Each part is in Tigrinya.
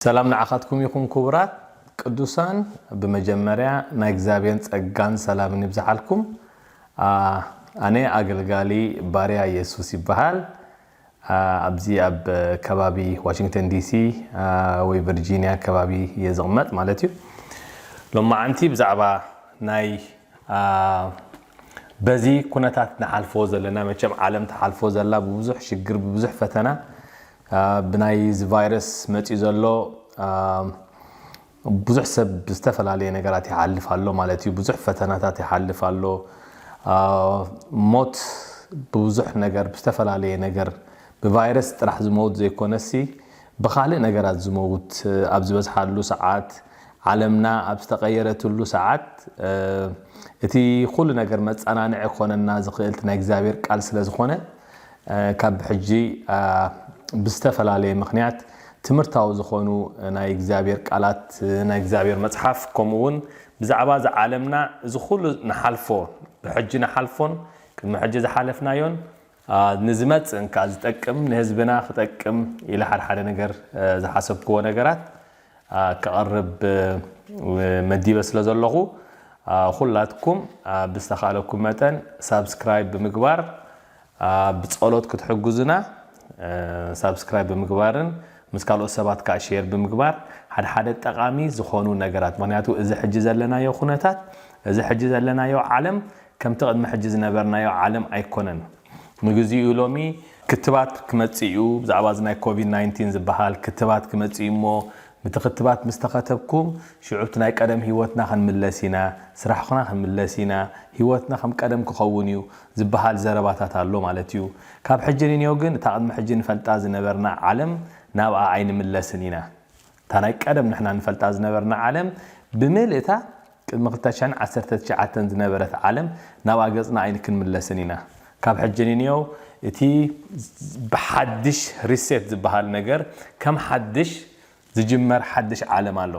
ሰላም ንዓኻትኩም ይኹን ኩቡራት ቅዱሳን ብመጀመርያ ናይ እግዚኣብሔን ጸጋን ሰላምን ይብዝሓልኩም ኣነ ኣገልጋሊ ባርያ የሱስ ይበሃል ኣብዚ ኣብ ከባቢ ዋሽንግተን ዲሲ ወይ ቨርጂንያ ከባቢ እየ ዝቕመጥ ማለት እዩ ሎማዓንቲ ብዛዕባ ናይ በዚ ኩነታት ንሓልፎ ዘለና መቸም ዓለም ትሓልፎ ዘላ ብብዙሕ ሽግር ብብዙሕ ፈተና ብናይ እዚ ቫይረስ መፂኡ ዘሎ ብዙሕ ሰብ ብዝተፈላለየ ነገራት ይሓልፍ ኣሎ ማለት እዩ። ብዙሕ ፈተናታት ይሓልፍ ኣሎ። ሞት ብብዙሕ ነገር ብዝተፈላለየ ነገር ብቫይረስ ጥራሕ ዝመውት ዘይኮነሲ ብኻልእ ነገራት ዝመውት ኣብ ዝበዝሓሉ ሰዓት ዓለምና ኣብ ዝተቐየረትሉ ሰዓት እቲ ኩሉ ነገር መፀናንዒ ክኾነና ዝኽእል እቲ ናይ እግዚኣብሔር ቃል ስለዝኾነ ካብ ሕጂ ብዝተፈላለየ ምኽንያት ትምህርታዊ ዝኾኑ ናይ እግዚኣብሔር ቃላት ናይ እግዚኣብሔር መጽሓፍ ከምኡ ውን ብዛዕባ እዛ ዓለምና እዚ ኩሉ ንሓልፎ ብሕጂ ንሓልፎን ቅድሚ ሕጂ ዝሓለፍናዮን ንዝመጽእን ከኣ ዝጠቅም ንህዝብና ክጠቅም ኢለ ሓደ ሓደ ነገር ዝሓሰብክዎ ነገራት ከቕርብ መዲበ ስለ ዘለኹ ኩላትኩም ብዝተኻለኩም መጠን ሳብስክራይብ ብምግባር ብ ጸሎት ክትሕጉዙና ሳብስክራይብ ብምግባርን ምስ ካልኦት ሰባት ካኣ ሼር ብምግባር ሓደ ሓደ ጠቃሚ ዝኮኑ ነገራት ምክንያቱ እዚ ሕጂ ዘለናዮ ኩነታት እዚ ሕጂ ዘለናዮ ዓለም ከምቲ ቅድሚ ሕጂ ዝነበርናዮ ዓለም ኣይኮነን ንግዚኡ ሎሚ ክትባት ክመጽእ ኢዩ ብዛዕባ እዚ ናይ ኮቪድ ናይንቲን ዝብሃል ክትባት ክመጽእ ኢዩ እሞ ንቲ ክትባት ምስ ተኸተብኩም ሽዑብቲ ናይ ቀደም ህይወትና ክንምለስ ኢና፣ ስራሕኹና ክንምለስ ኢና፣ ህይወትና ከም ቀደም ክኸውን እዩ ዝበሃል ዘረባታት ኣሎ ማለት እዩ። ካብ ሕጂ ንንየው ግን እታ ቅድሚ ሕጂ ንፈልጣ ዝነበርና ዓለም ናብኣ ኣይንምለስን ኢና። እታ ናይ ቀደም ንሕና ንፈልጣ ዝነበርና ዓለም ብምልእታ ቅድሚ ክልተ ሽሕን ዓሰርተ ትሽዓተን ዝነበረት ዓለም ናብኣ ገጽና ኣይንክንምለስን ኢና። ካብ ሕጂ ንንየው እቲ ብሓድሽ ሪሴት ዝበሃል ነገር ከም ሓድሽ ዝጅመር ሓድሽ ዓለም ኣሎ።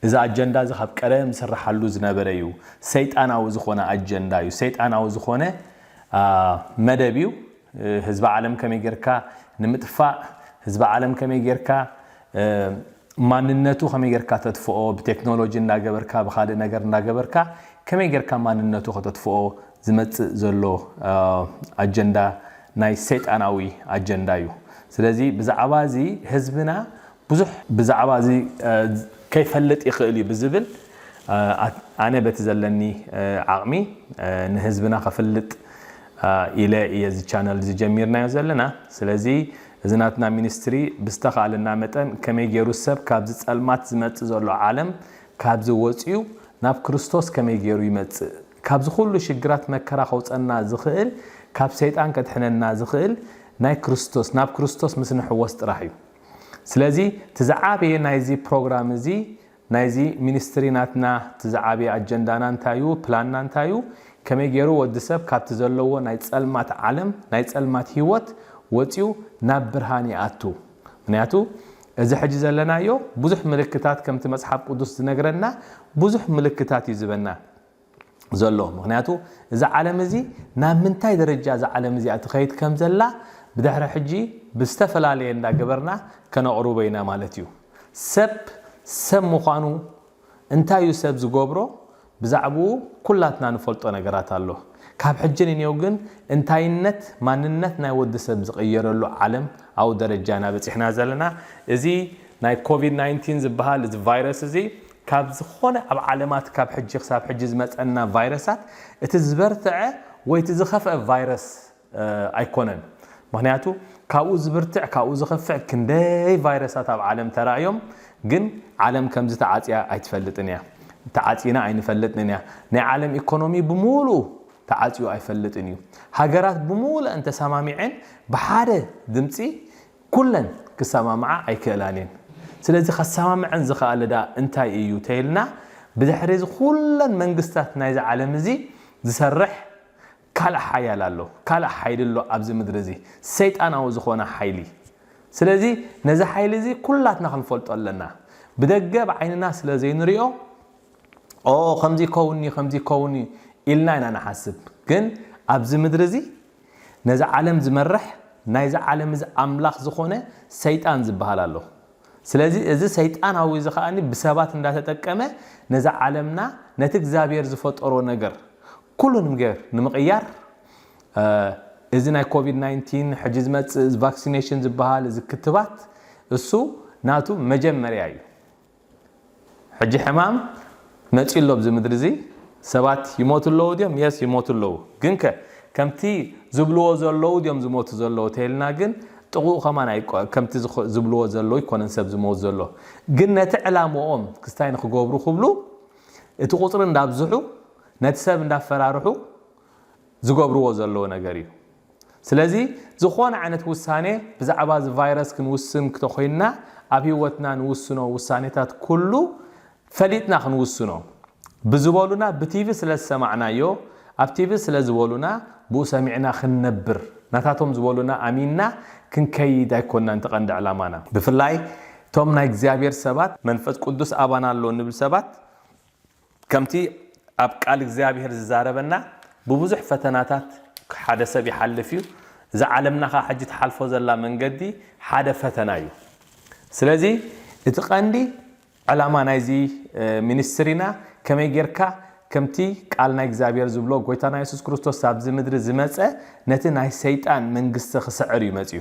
እዚ ኣጀንዳ እዚ ካብ ቀደም ዝስራሓሉ ዝነበረ እዩ። ሰይጣናዊ ዝኾነ ኣጀንዳ እዩ። ሰይጣናዊ ዝኾነ መደብ እዩ። ህዝቢ ዓለም ከመይ ጌርካ ንምጥፋእ ህዝቢ ዓለም ከመይ ጌርካ ማንነቱ ከመይ ጌርካ ተጥፍኦ ብቴክኖሎጂ እናገበርካ ብካልእ ነገር እናገበርካ ከመይ ጌርካ ማንነቱ ከተጥፍኦ ዝመፅእ ዘሎ ኣጀንዳ ናይ ሰይጣናዊ ኣጀንዳ እዩ ስለዚ ብዛዕባ እዚ ህዝብና ብዙሕ ብዛዕባ እዚ ከይፈልጥ ይኽእል እዩ ብዝብል ኣነ በቲ ዘለኒ ዓቕሚ ንህዝብና ከፍልጥ ኢለ እየ እዚ ቻነል እዚ ጀሚርናዮ ዘለና። ስለዚ እዚ ናትና ሚኒስትሪ ብዝተኻእለና መጠን ከመይ ገይሩ ሰብ ካብዚ ጸልማት ዝመጽእ ዘሎ ዓለም ካብዚ ወጽዩ ናብ ክርስቶስ ከመይ ገይሩ ይመጽእ ካብዚ ኩሉ ሽግራት መከራ ከውጸና ዝኽእል ካብ ሰይጣን ከድሕነና ዝኽእል ናይ ክርስቶስ ናብ ክርስቶስ ምስ ንሕወስ ጥራሕ እዩ። ስለዚ እቲ ዝዓበየ ናይዚ ፕሮግራም እዚ ናይዚ ሚኒስትሪ ናትና እቲ ዝዓበየ ኣጀንዳና እንታይ እዩ ፕላንና እንታይ እዩ ከመይ ገይሩ ወዲ ሰብ ካብቲ ዘለዎ ናይ ጸልማት ዓለም ናይ ጸልማት ሂወት ወጽዩ ናብ ብርሃን ይኣቱ ምክንያቱ እዚ ሕጂ ዘለናዮ ብዙሕ ምልክታት ከምቲ መጽሓፍ ቅዱስ ዝነግረና ብዙሕ ምልክታት እዩ ዝበና ዘሎ። ምኽንያቱ እዛ ዓለም እዚ ናብ ምንታይ ደረጃ እዛ ዓለም እዚኣ ትኸይድ ከም ዘላ ብድሕሪ ሕጂ ብዝተፈላለየ እንዳ ገበርና ከነቕርቦ ኢና ማለት እዩ። ሰብ ሰብ ምዃኑ እንታይ እዩ ሰብ ዝገብሮ ብዛዕብኡ ኩላትና ንፈልጦ ነገራት ኣሎ። ካብ ሕጂ ንኔው ግን እንታይነት ማንነት ናይ ወዲ ሰብ ዝቕየረሉ ዓለም ኣዊ ደረጃ ኢና በጺሕና ዘለና። እዚ ናይ ኮቪድ ናይንቲን ዝብሃል እዚ ቫይረስ እዚ ካብ ዝኾነ ኣብ ዓለማት ካብ ሕጂ ክሳብ ሕጂ ዝመጸና ቫይረሳት እቲ ዝበርትዐ ወይ እቲ ዝኸፍአ ቫይረስ ኣይኮነን። ምኽንያቱ ካብኡ ዝብርትዕ ካብኡ ዝኸፍዕ ክንደይ ቫይረሳት ኣብ ዓለም ተራእዮም ግን ዓለም ከምዚ ተዓጽያ ኣይትፈልጥን እያ። ተዓጺና ኣይንፈልጥንን እያ። ናይ ዓለም ኢኮኖሚ ብሙሉኡ ተዓጽዩ ኣይፈልጥን እዩ። ሃገራት ብሙለኣን ተሳማሚዐን ብሓደ ድምጺ ኩለን ክሰማምዓ ኣይክእላን እየን። ስለዚ ከሰማምዐን ዝኸኣለ ደኣ እንታይ እዩ ተይልና ብድሕሪ እዚ ኩለን መንግስታት ናይዚ ዓለም እዚ ዝሰርሕ ካልእ ሓያል ኣሎ። ካልእ ሓይሊ ኣሎ ኣብዚ ምድሪ እዚ ሰይጣናዊ ዝኾነ ሓይሊ። ስለዚ ነዚ ሓይሊ እዚ ኩላትና ክንፈልጦ ኣለና። ብደገ ብዓይንና ስለ ዘይንሪኦ ኦኦ ከምዚ ይከውን እዩ ከምዚ ይከውን እዩ ኢልና ኢና ንሓስብ። ግን ኣብዚ ምድሪ እዚ ነዛ ዓለም ዝመርሕ ናይዚ ዓለም እዚ ኣምላኽ ዝኾነ ሰይጣን ዝበሃል ኣሎ። ስለዚ እዚ ሰይጣናዊ እዚ ከኣ ብሰባት እንዳተጠቀመ ነዛ ዓለምና ነቲ እግዚኣብሔር ዝፈጠሮ ነገር ኩሉ ንምገር ንምቕያር እዚ ናይ ኮቪድ ናይንቲን ሕጂ ዝመጽእ ቫክሲኔሽን ዝበሃል እዚ ክትባት እሱ ናቱ መጀመርያ እዩ። ሕጂ ሕማም መጽዩ ኣሎ ኣብዚ ምድሪ እዚ ሰባት ይሞቱ ኣለዉ ድዮም የስ ይሞቱ ኣለዉ ግን ከ ከምቲ ዝብልዎ ዘለዉ ድዮም ዝሞቱ ዘለዉ ተይልና ግን ጥቕኡ ከማን ኣይ ከምቲ ዝብልዎ ዘለዉ ኣይኮነን ሰብ ዝሞት ዘሎ ግን ነቲ ዕላምኦም ክስታይ ንክገብሩ ክብሉ እቲ ቁጽሪ እንዳብዝሑ ነቲ ሰብ እንዳፈራርሑ ዝገብርዎ ዘለዉ ነገር እዩ። ስለዚ ዝኾነ ዓይነት ውሳኔ ብዛዕባ እዚ ቫይረስ ክንውስን ክተኾይንና ኣብ ህይወትና ንውስኖ ውሳኔታት ኩሉ ፈሊጥና ክንውስኖ ብዝበሉና ብቲቪ ስለ ዝሰማዕናዮ ኣብ ቲቪ ስለ ዝበሉና ብኡ ሰሚዕና ክንነብር ናታቶም ዝበሉና ኣሚንና ክንከይድ ኣይኮናን እቲ ቀንዲ ዕላማና። ብፍላይ እቶም ናይ እግዚኣብሔር ሰባት መንፈስ ቅዱስ ኣባና ኣሎ ንብል ሰባት ከምቲ ኣብ ቃል እግዚኣብሄር ዝዛረበና ብብዙሕ ፈተናታት ሓደ ሰብ ይሓልፍ እዩ እዛ ዓለምና ከኣ ሕጂ ትሓልፎ ዘላ መንገዲ ሓደ ፈተና እዩ ስለዚ እቲ ቀንዲ ዕላማ ናይዚ ሚኒስትሪና ከመይ ጌርካ ከምቲ ቃል ናይ እግዚኣብሄር ዝብሎ ጎይታና የሱስ ክርስቶስ ኣብዚ ምድሪ ዝመጸ ነቲ ናይ ሰይጣን መንግስቲ ክስዕር እዩ መጽዩ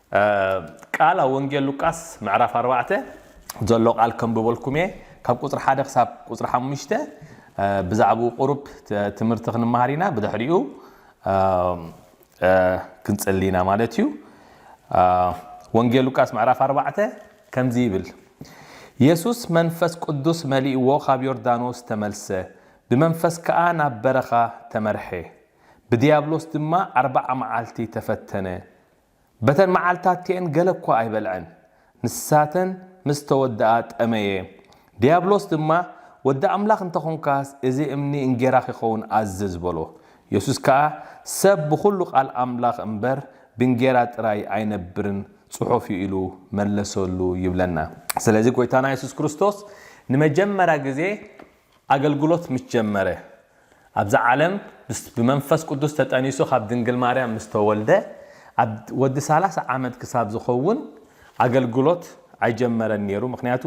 ቃል ኣብ ወንጌል ሉቃስ ምዕራፍ ኣርባዕተ ዘሎ ቃል ከንብበልኩም እየ ካብ ቁፅሪ ሓደ ክሳብ ቁፅሪ ሓሙሽተ ብዛዕባኡ ቁሩብ ትምህርቲ ክንመሃር ኢና ብድሕሪኡ ክንፅሊ ኢና ማለት እዩ ወንጌል ሉቃስ ምዕራፍ ኣርባዕተ ከምዚ ይብል የሱስ መንፈስ ቅዱስ መሊእዎ ካብ ዮርዳኖስ ተመልሰ ብመንፈስ ከዓ ናብ በረኻ ተመርሐ ብዲያብሎስ ድማ ኣርባዓ መዓልቲ ተፈተነ በተን መዓልታት ከኤን ገለ እኳ ኣይበልዐን፣ ንሳተን ምስ ተወድኣ ጠመየ። ድያብሎስ ድማ፣ ወዲ ኣምላኽ እንተ ዀንካስ፣ እዚ እምኒ እንጌራ ኺኸውን ኣዝዝ በሎ። የሱስ ከኣ፣ ሰብ ብዅሉ ቓል ኣምላኽ እምበር፣ ብእንጌራ ጥራይ ኣይነብርን ጽሑፍ እዩ ኢሉ መለሰሉ ይብለና። ስለዚ ጐይታና የሱስ ክርስቶስ ንመጀመርያ ግዜ፣ ኣገልግሎት ምስ ጀመረ፣ ኣብዛ ዓለም ምስ ብመንፈስ ቅዱስ ተጠኒሱ ካብ ድንግል ማርያም ምስ ተወልደ ኣብ ወዲ ሰላሳ ዓመት ክሳብ ዝኸውን ኣገልግሎት ኣይጀመረን ኔሩ ምኽንያቱ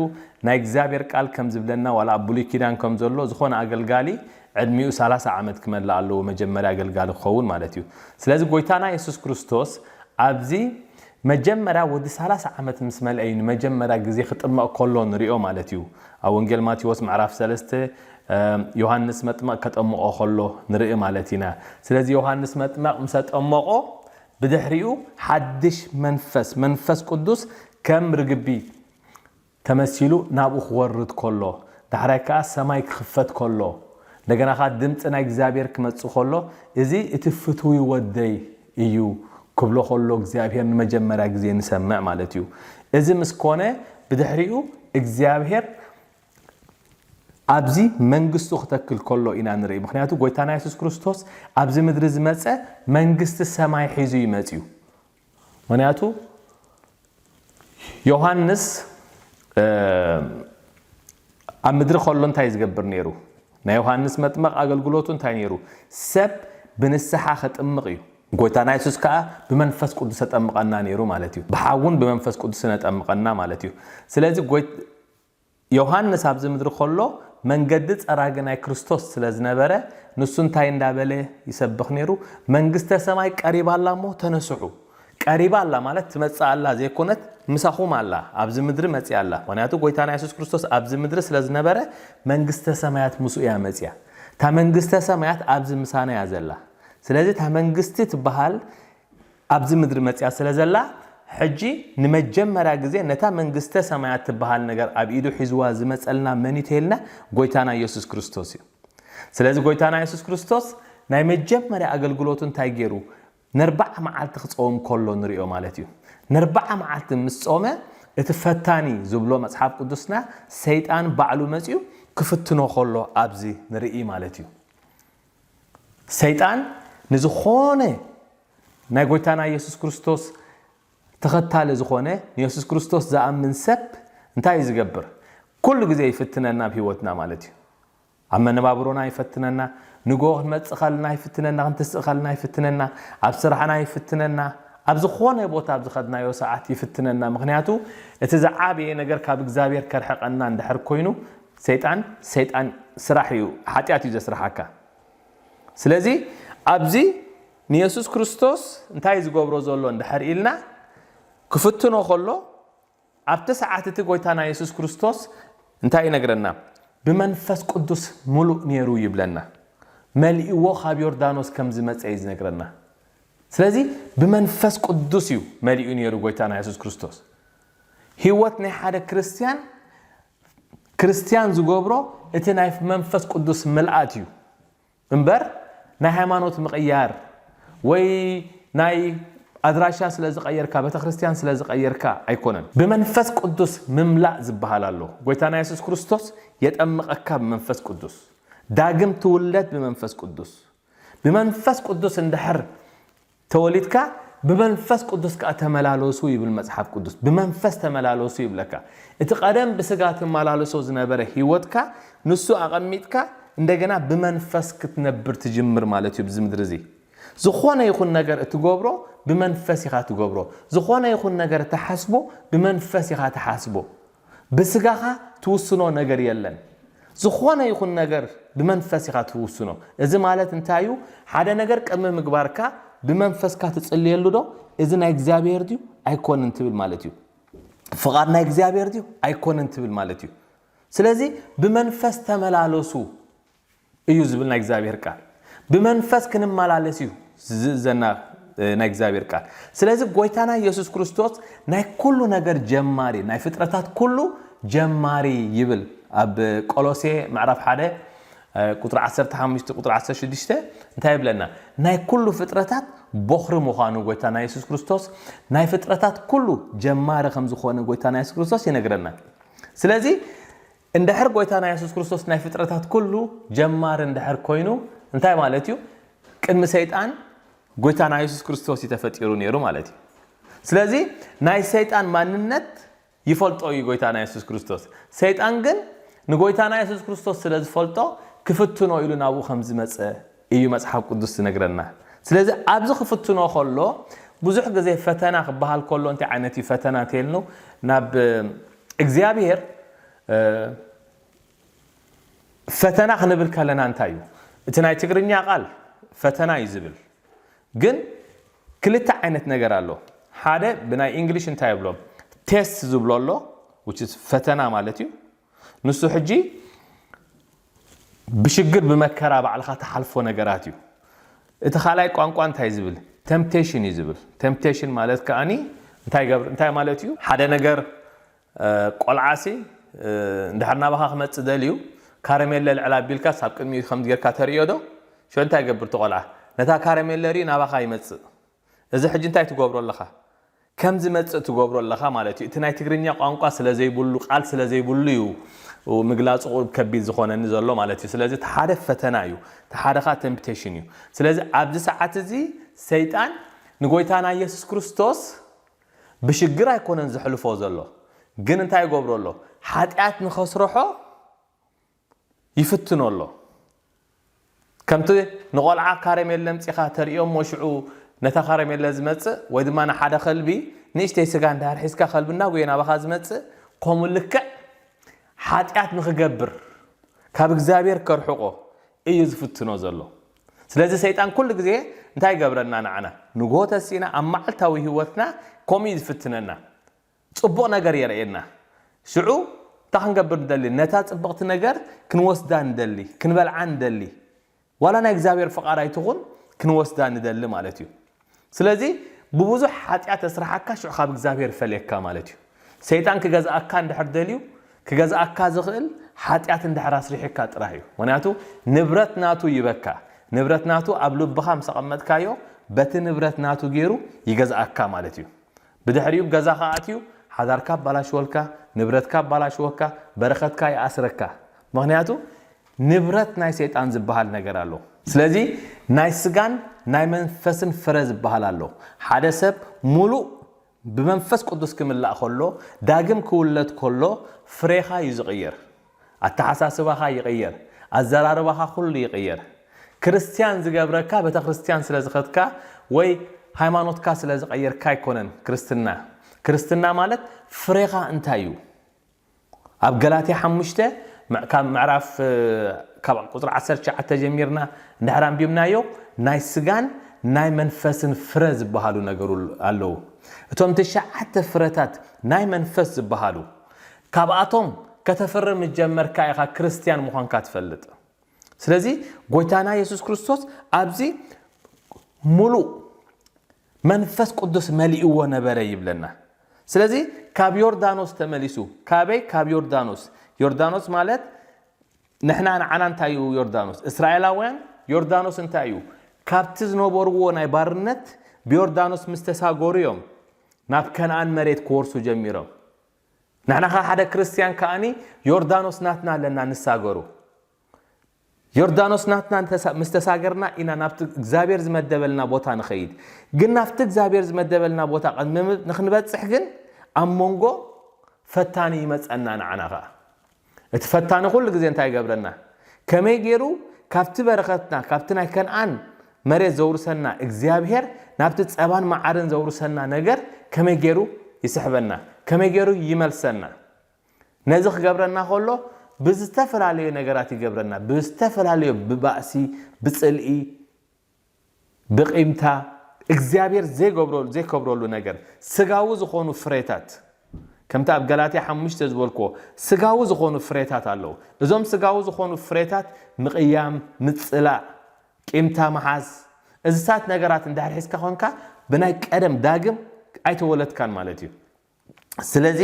ናይ እግዚኣብሔር ቃል ከም ዝብለና ዋላ ኣብ ብሉይ ኪዳን ከም ዘሎ ዝኾነ ኣገልጋሊ ዕድሚኡ ሰላሳ ዓመት ክመልእ ኣለዎ መጀመርያ ኣገልጋሊ ክኸውን ማለት እዩ ስለዚ ጎይታና የሱስ ክርስቶስ ኣብዚ መጀመርያ ወዲ ሰላሳ ዓመት ምስ መልአ እዩ ንመጀመርያ ግዜ ክጥመቕ ከሎ ንሪኦ ማለት እዩ። ኣብ ወንጌል ማቴዎስ ምዕራፍ ሰለስተ ዮሃንስ መጥመቕ ከጠምቖ ከሎ ንርኢ ማለት ኢና። ስለዚ ዮሃንስ መጥመቕ ምስ ኣጠመቖ ብድሕሪኡ ሓድሽ መንፈስ መንፈስ ቅዱስ ከም ርግቢ ተመሲሉ ናብኡ ክወርድ ከሎ፣ ዳሕራይ ከኣ ሰማይ ክኽፈት ከሎ፣ እንደገና ከኣ ድምጺ ናይ እግዚኣብሔር ክመጽእ ከሎ፣ እዚ እቲ ፍትዊ ወደይ እዩ ክብሎ ከሎ እግዚኣብሔር ንመጀመርያ ግዜ ንሰምዕ ማለት እዩ። እዚ ምስ ኮነ ብድሕሪኡ እግዚኣብሔር ኣብዚ መንግስቱ ክተክል ከሎ ኢና ንርኢ። ምኽንያቱ ጎይታና የሱስ ክርስቶስ ኣብዚ ምድሪ ዝመጸ መንግስቲ ሰማይ ሒዙ እዩ መጺኡ። ምክንያቱ ዮሃንስ ኣብ ምድሪ ከሎ እንታይ እዩ ዝገብር ነይሩ? ናይ ዮሃንስ መጥመቕ ኣገልግሎቱ እንታይ ነይሩ? ሰብ ብንስሓ ከጥምቕ እዩ። ጎይታና የሱስ ከኣ ብመንፈስ ቅዱስ ተጠምቐና ነይሩ ማለት እዩ። ብሓውን ብመንፈስ ቅዱስን ኣጠምቐና ማለት እዩ። ስለዚ ዮሃንስ ኣብዚ ምድሪ ከሎ መንገዲ ጸራጊ ናይ ክርስቶስ ስለ ዝነበረ ንሱ እንታይ እንዳ በለ ይሰብኽ ነይሩ መንግስተ ሰማይ ቀሪባ ኣላ እሞ ተነስሑ ቀሪባ ኣላ ማለት ትመጽእ ኣላ ዘይኮነት ምሳኹም ኣላ ኣብዚ ምድሪ መጽያ ኣላ ምክንያቱ ጎይታና የሱስ ክርስቶስ ኣብዚ ምድሪ ስለ ዝነበረ መንግስተ ሰማያት ምስኡ እያ መጽያ እታ መንግስተ ሰማያት ኣብዚ ምሳና እያ ዘላ ስለዚ እታ መንግስቲ ትበሃል ኣብዚ ምድሪ መጺኣ ስለ ዘላ፣ ሕጂ ንመጀመርያ ግዜ ነታ መንግስተ ሰማያት ትበሃል ነገር ኣብ ኢዱ ሒዝዋ ዝመጸልና መን'ዩ ተይልና፣ ጎይታና የሱስ ክርስቶስ እዩ። ስለዚ ጎይታና የሱስ ክርስቶስ ናይ መጀመርያ ኣገልግሎቱ እንታይ ጌሩ? ነርብዓ መዓልቲ ክጸውም ከሎ ንርእዮ ማለት እዩ። ነርብዓ መዓልቲ ምስ ጾመ እቲ ፈታኒ ዝብሎ መጽሓፍ ቅዱስና ሰይጣን ባዕሉ መጺኡ ክፍትኖ ከሎ ኣብዚ ንርኢ ማለት እዩ። ሰይጣን ንዝኾነ ናይ ጎይታና የሱስ ክርስቶስ ተኸታሊ ዝኾነ ንየሱስ ክርስቶስ ዝኣምን ሰብ እንታይ እዩ ዝገብር? ኩሉ ግዜ ይፍትነና ኣብ ህይወትና ማለት እዩ። ኣብ መነባብሮና ይፈትነና፣ ንግሆ ክንመጽእ ከለና ይፍትነና፣ ክንትስእ ከለና ይፍትነና፣ ኣብ ስራሕና ይፍትነና፣ ኣብ ዝኾነ ቦታ ኣብ ዝኸድናዮ ሰዓት ይፍትነና። ምክንያቱ እቲ ዝዓበየ ነገር ካብ እግዚኣብሔር ከርሕቀና እንድሕር ኮይኑ ሰይጣን ሰይጣን ስራሕ እዩ ሓጢኣት እዩ ዘስርሓካ ስለዚ ኣብዚ ንየሱስ ክርስቶስ እንታይ እዩ ዝገብሮ ዘሎ እንድሕር ኢልና ክፍትኖ ከሎ ኣብቲ ሰዓት እቲ ጎይታና የሱስ ክርስቶስ እንታይ ይነግረና ብመንፈስ ቅዱስ ምሉእ ነይሩ ይብለና መልእዎ ካብ ዮርዳኖስ ከም ዝመፀ እዩ ዝነግረና ስለዚ ብመንፈስ ቅዱስ እዩ መሊኡ ነይሩ ጎይታና የሱስ ክርስቶስ ህይወት ናይ ሓደ ክርስትያን ክርስትያን ዝገብሮ እቲ ናይ መንፈስ ቅዱስ ምልኣት እዩ እምበር ናይ ሃይማኖት ምቕያር ወይ ናይ ኣድራሻ ስለ ዝቐየርካ ቤተክርስትያን ስለ ዝቐየርካ ኣይኮነን። ብመንፈስ ቅዱስ ምምላእ ዝብሃል ኣሎ። ጎይታና የሱስ ክርስቶስ የጠምቐካ ብመንፈስ ቅዱስ ዳግም ትውለድ ብመንፈስ ቅዱስ ብመንፈስ ቅዱስ እንድሕር ተወሊድካ ብመንፈስ ቅዱስ ከኣ ተመላለሱ ይብል መጽሓፍ ቅዱስ። ብመንፈስ ተመላለሱ ይብለካ። እቲ ቀደም ብስጋ ትመላለሶ ዝነበረ ህይወትካ ንሱ ኣቐሚጥካ እንደገና ብመንፈስ ክትነብር ትጅምር ማለት እዩ ኣብዚ ምድሪ እዚ። ዝኾነ ይኹን ነገር እትገብሮ ብመንፈስ ኢኻ ትገብሮ። ዝኾነ ይኹን ነገር እትሓስቦ ብመንፈስ ኢኻ ትሓስቦ። ብስጋኻ ትውስኖ ነገር የለን። ዝኾነ ይኹን ነገር ብመንፈስ ኢኻ ትውስኖ። እዚ ማለት እንታይ እዩ? ሓደ ነገር ቅድሚ ምግባርካ ብመንፈስካ ትጽልየሉ ዶ? እዚ ናይ እግዚኣብሔር ድዩ ኣይኮንን ትብል ማለት እዩ። ፍቓድ ናይ እግዚኣብሔር ድዩ ኣይኮንን ትብል ማለት እዩ። ስለዚ ብመንፈስ ተመላለሱ እዩ ዝብል ናይ እግዚኣብሔር ቃል ብመንፈስ ክንመላለስ እዩ ዝእዘና ናይ እግዚኣብሔር ቃል ስለዚ ጎይታና ኢየሱስ ክርስቶስ ናይ ኩሉ ነገር ጀማሪ ናይ ፍጥረታት ኩሉ ጀማሪ ይብል ኣብ ቆሎሴ ምዕራፍ ሓደ ቁፅሪ 15 ቁፅሪ 16 እንታይ ይብለና ናይ ኩሉ ፍጥረታት ቦኽሪ ምዃኑ ጎይታና ኢየሱስ ክርስቶስ ናይ ፍጥረታት ኩሉ ጀማሪ ከም ዝኾነ ጎይታና ኢየሱስ ክርስቶስ ይነግረና ስለዚ እንድሕር ጎይታና የሱስ ክርስቶስ ናይ ፍጥረታት ኩሉ ጀማሪ እንድሕር ኮይኑ እንታይ ማለት እዩ ቅድሚ ሰይጣን ጎይታና የሱስ ክርስቶስ እዩ ተፈጢሩ ነይሩ ማለት እዩ ስለዚ ናይ ሰይጣን ማንነት ይፈልጦ እዩ ጎይታና የሱስ ክርስቶስ ሰይጣን ግን ንጎይታና የሱስ ክርስቶስ ስለ ዝፈልጦ ክፍትኖ ኢሉ ናብኡ ከም ዝመፀ እዩ መጽሓፍ ቅዱስ ዝነግረና ስለዚ ኣብዚ ክፍትኖ ከሎ ብዙሕ ግዜ ፈተና ክበሃል ከሎ እንታይ ዓይነት እዩ ፈተና እንተይልኑ ናብ እግዚኣብሄር ፈተና ክንብል ከለና እንታይ እዩ እቲ ናይ ትግርኛ ቃል ፈተና እዩ ዝብል ግን ክልተ ዓይነት ነገር ኣሎ ሓደ ብናይ እንግሊሽ እንታይ ይብሎ ቴስት ዝብሎ ኣሎ ፈተና ማለት እዩ ንሱ ሕጂ ብሽግር ብመከራ ባዕልኻ ትሓልፎ ነገራት እዩ። እቲ ካልኣይ ቋንቋ እንታይ ዝብል ተምፕቴሽን እዩ ዝብል ተምፕቴሽን ማለት ከኣ እንታይ ገብር እንታይ ማለት እዩ ሓደ ነገር ቆልዓሲ እንድሕር ናባኻ ክመጽእ ደልዩ ካረሜለ ልዕል ኣቢልካስ ኣብ ቅድሚኡ ከምዚ ጌርካ ተርእዮ ዶ ሸው እንታይ ይገብር እቲ ቆልዓ ነታ ካረሜለ ርእዩ ናባኻ ይመጽእ እዚ ሕጂ እንታይ ትገብሮ ኣለኻ ከም ዝመጽእ ትገብሮ ኣለኻ ማለት እዩ እቲ ናይ ትግርኛ ቋንቋ ስለ ዘይብሉ ቃል ስለ ዘይብሉ እዩ ምግላጹ ቁርብ ከቢድ ዝኾነኒ ዘሎ ማለት እዩ ስለዚ እቲ ሓደ ፈተና እዩ እቲ ሓደ ኸኣ ተምፕቴሽን እዩ ስለዚ ኣብዚ ሰዓት እዚ ሰይጣን ንጎይታና ኢየሱስ ክርስቶስ ብሽግር ኣይኮነን ዘሕልፎ ዘሎ ግን እንታይ ይገብሮ ኣሎ ሓጢኣት ንኸስርሖ ይፍትኖ ኣሎ ከምቲ ንቆልዓ ካረሜለ ኣምጺኻ ተርእዮ እሞ ሽዑ ነታ ካረሜለ ዝመጽእ ወይ ድማ ንሓደ ከልቢ ንእሽተይ ስጋ እንድሕር ሒዝካ ከልቢ እናጎየ ናባኻ ዝመጽእ ከምኡ ልክዕ ሓጢኣት ንኽገብር ካብ እግዚኣብሔር ከርሕቆ እዩ ዝፍትኖ ዘሎ ስለዚ ሰይጣን ኩሉ ግዜ እንታይ ይገብረና ንዓና ንግሆ ተሲእና ኣብ መዓልታዊ ህይወትና ከምኡ እዩ ዝፍትነና ጽቡቕ ነገር የርእየና። ሽዑ እንታይ ክንገብር ንደሊ? ነታ ጽብቕቲ ነገር ክንወስዳ ንደሊ፣ ክንበልዓ ንደሊ። ዋላ ናይ እግዚኣብሔር ፍቓድ ኣይትኹን ክንወስዳ ንደሊ ማለት እዩ። ስለዚ ብብዙሕ ሓጢኣት ተስርሓካ ሽዑ ካብ እግዚኣብሔር ይፈልየካ ማለት እዩ። ሰይጣን ክገዝኣካ እንድሕር ደልዩ ክገዝኣካ ዝኽእል ሓጢኣት እንድሕር ኣስሪሒካ ጥራህ እዩ። ምክንያቱ ንብረት ናቱ ይበካ። ንብረት ናቱ ኣብ ልብኻ ምስ ኣቐመጥካዮ በቲ ንብረት ናቱ ገይሩ ይገዝኣካ ማለት እዩ። ብድሕሪኡ ገዛኻ ኣትዩ ሓዳርካ ኣባላሽወልካ ንብረትካ ኣባላሽወካ በረከትካ ይኣስረካ ምክንያቱ ንብረት ናይ ሰይጣን ዝባሃል ነገር ኣሎ ስለዚ ናይ ስጋን ናይ መንፈስን ፍረ ዝባሃል ኣሎ ሓደ ሰብ ሙሉእ ብመንፈስ ቅዱስ ክምላእ ከሎ ዳግም ክውለድ ከሎ ፍሬኻ እዩ ዝቅየር ኣተሓሳስባኻ ይቕየር ኣዘራርባኻ ኩሉ ይቕየር ክርስትያን ዝገብረካ ቤተክርስትያን ስለ ዝኸድካ ወይ ሃይማኖትካ ስለ ዝቐየርካ ኣይኮነን ክርስትና ክርስትና ማለት ፍሬኻ እንታይ እዩ ኣብ ገላትያ ሓሙሽተ ካብ ምዕራፍ ካብ ቁፅሪ ዓሰርተ ትሽዓተ ጀሚርና እንድሕር ኣንቢብናዮ ናይ ስጋን ናይ መንፈስን ፍረ ዝበሃሉ ነገሩ ኣለዉ እቶም ትሽዓተ ፍረታት ናይ መንፈስ ዝበሃሉ ካብኣቶም ከተፍሪ ምስ ጀመርካ ኢኻ ክርስትያን ምዃንካ ትፈልጥ። ስለዚ ጎይታና የሱስ ክርስቶስ ኣብዚ ምሉእ መንፈስ ቅዱስ መሊእዎ ነበረ ይብለና። ስለዚ ካብ ዮርዳኖስ ተመሊሱ ካበይ ካብ ዮርዳኖስ ዮርዳኖስ ማለት ንሕና ንዓና እንታይ እዩ ዮርዳኖስ እስራኤላውያን ዮርዳኖስ እንታይ እዩ ካብቲ ዝነበርዎ ናይ ባርነት ብዮርዳኖስ ምስ ተሳገሩ እዮም ናብ ከነኣን መሬት ክወርሱ ጀሚሮም። ንሕና ከኣ ሓደ ክርስትያን ከኣኒ ዮርዳኖስ ናትና ኣለና ንሳገሩ ዮርዳኖስ ናትና ምስ ተሳገርና ኢና ናብቲ እግዚኣብሔር ዝመደበልና ቦታ ንኸይድ ግን ናብቲ እግዚኣብሔር ዝመደበልና ቦታ ንክንበፅሕ ግን ኣብ መንጎ ፈታኒ ይመፀና ንዓና ከኣ እቲ ፈታኒ ኩሉ ግዜ እንታይ ይገብረና? ከመይ ገይሩ ካብቲ በረኸትና፣ ካብቲ ናይ ከንኣን መሬት ዘውርሰና እግዚኣብሄር፣ ናብቲ ጸባን መዓርን ዘውርሰና ነገር ከመይ ገይሩ ይስሕበና? ከመይ ገይሩ ይመልሰና? ነዚ ክገብረና ከሎ ብዝተፈላለዩ ነገራት ይገብረና። ብዝተፈላለዩ፣ ብባእሲ፣ ብጽልኢ፣ ብቂምታ፣ እግዚኣብሔር ዘይከብረሉ ነገር፣ ስጋዊ ዝኾኑ ፍሬታት፣ ከምቲ ኣብ ገላትያ ሓሙሽተ ዝበልክዎ ስጋዊ ዝኾኑ ፍሬታት ኣለዉ። እዞም ስጋዊ ዝኾኑ ፍሬታት ምቕያም፣ ምጽላእ፣ ቂምታ ምሓዝ፣ እዚታት ነገራት እንድሕር ሒዝካ ኮንካ ብናይ ቀደም ዳግም ኣይተወለድካን ማለት እዩ። ስለዚ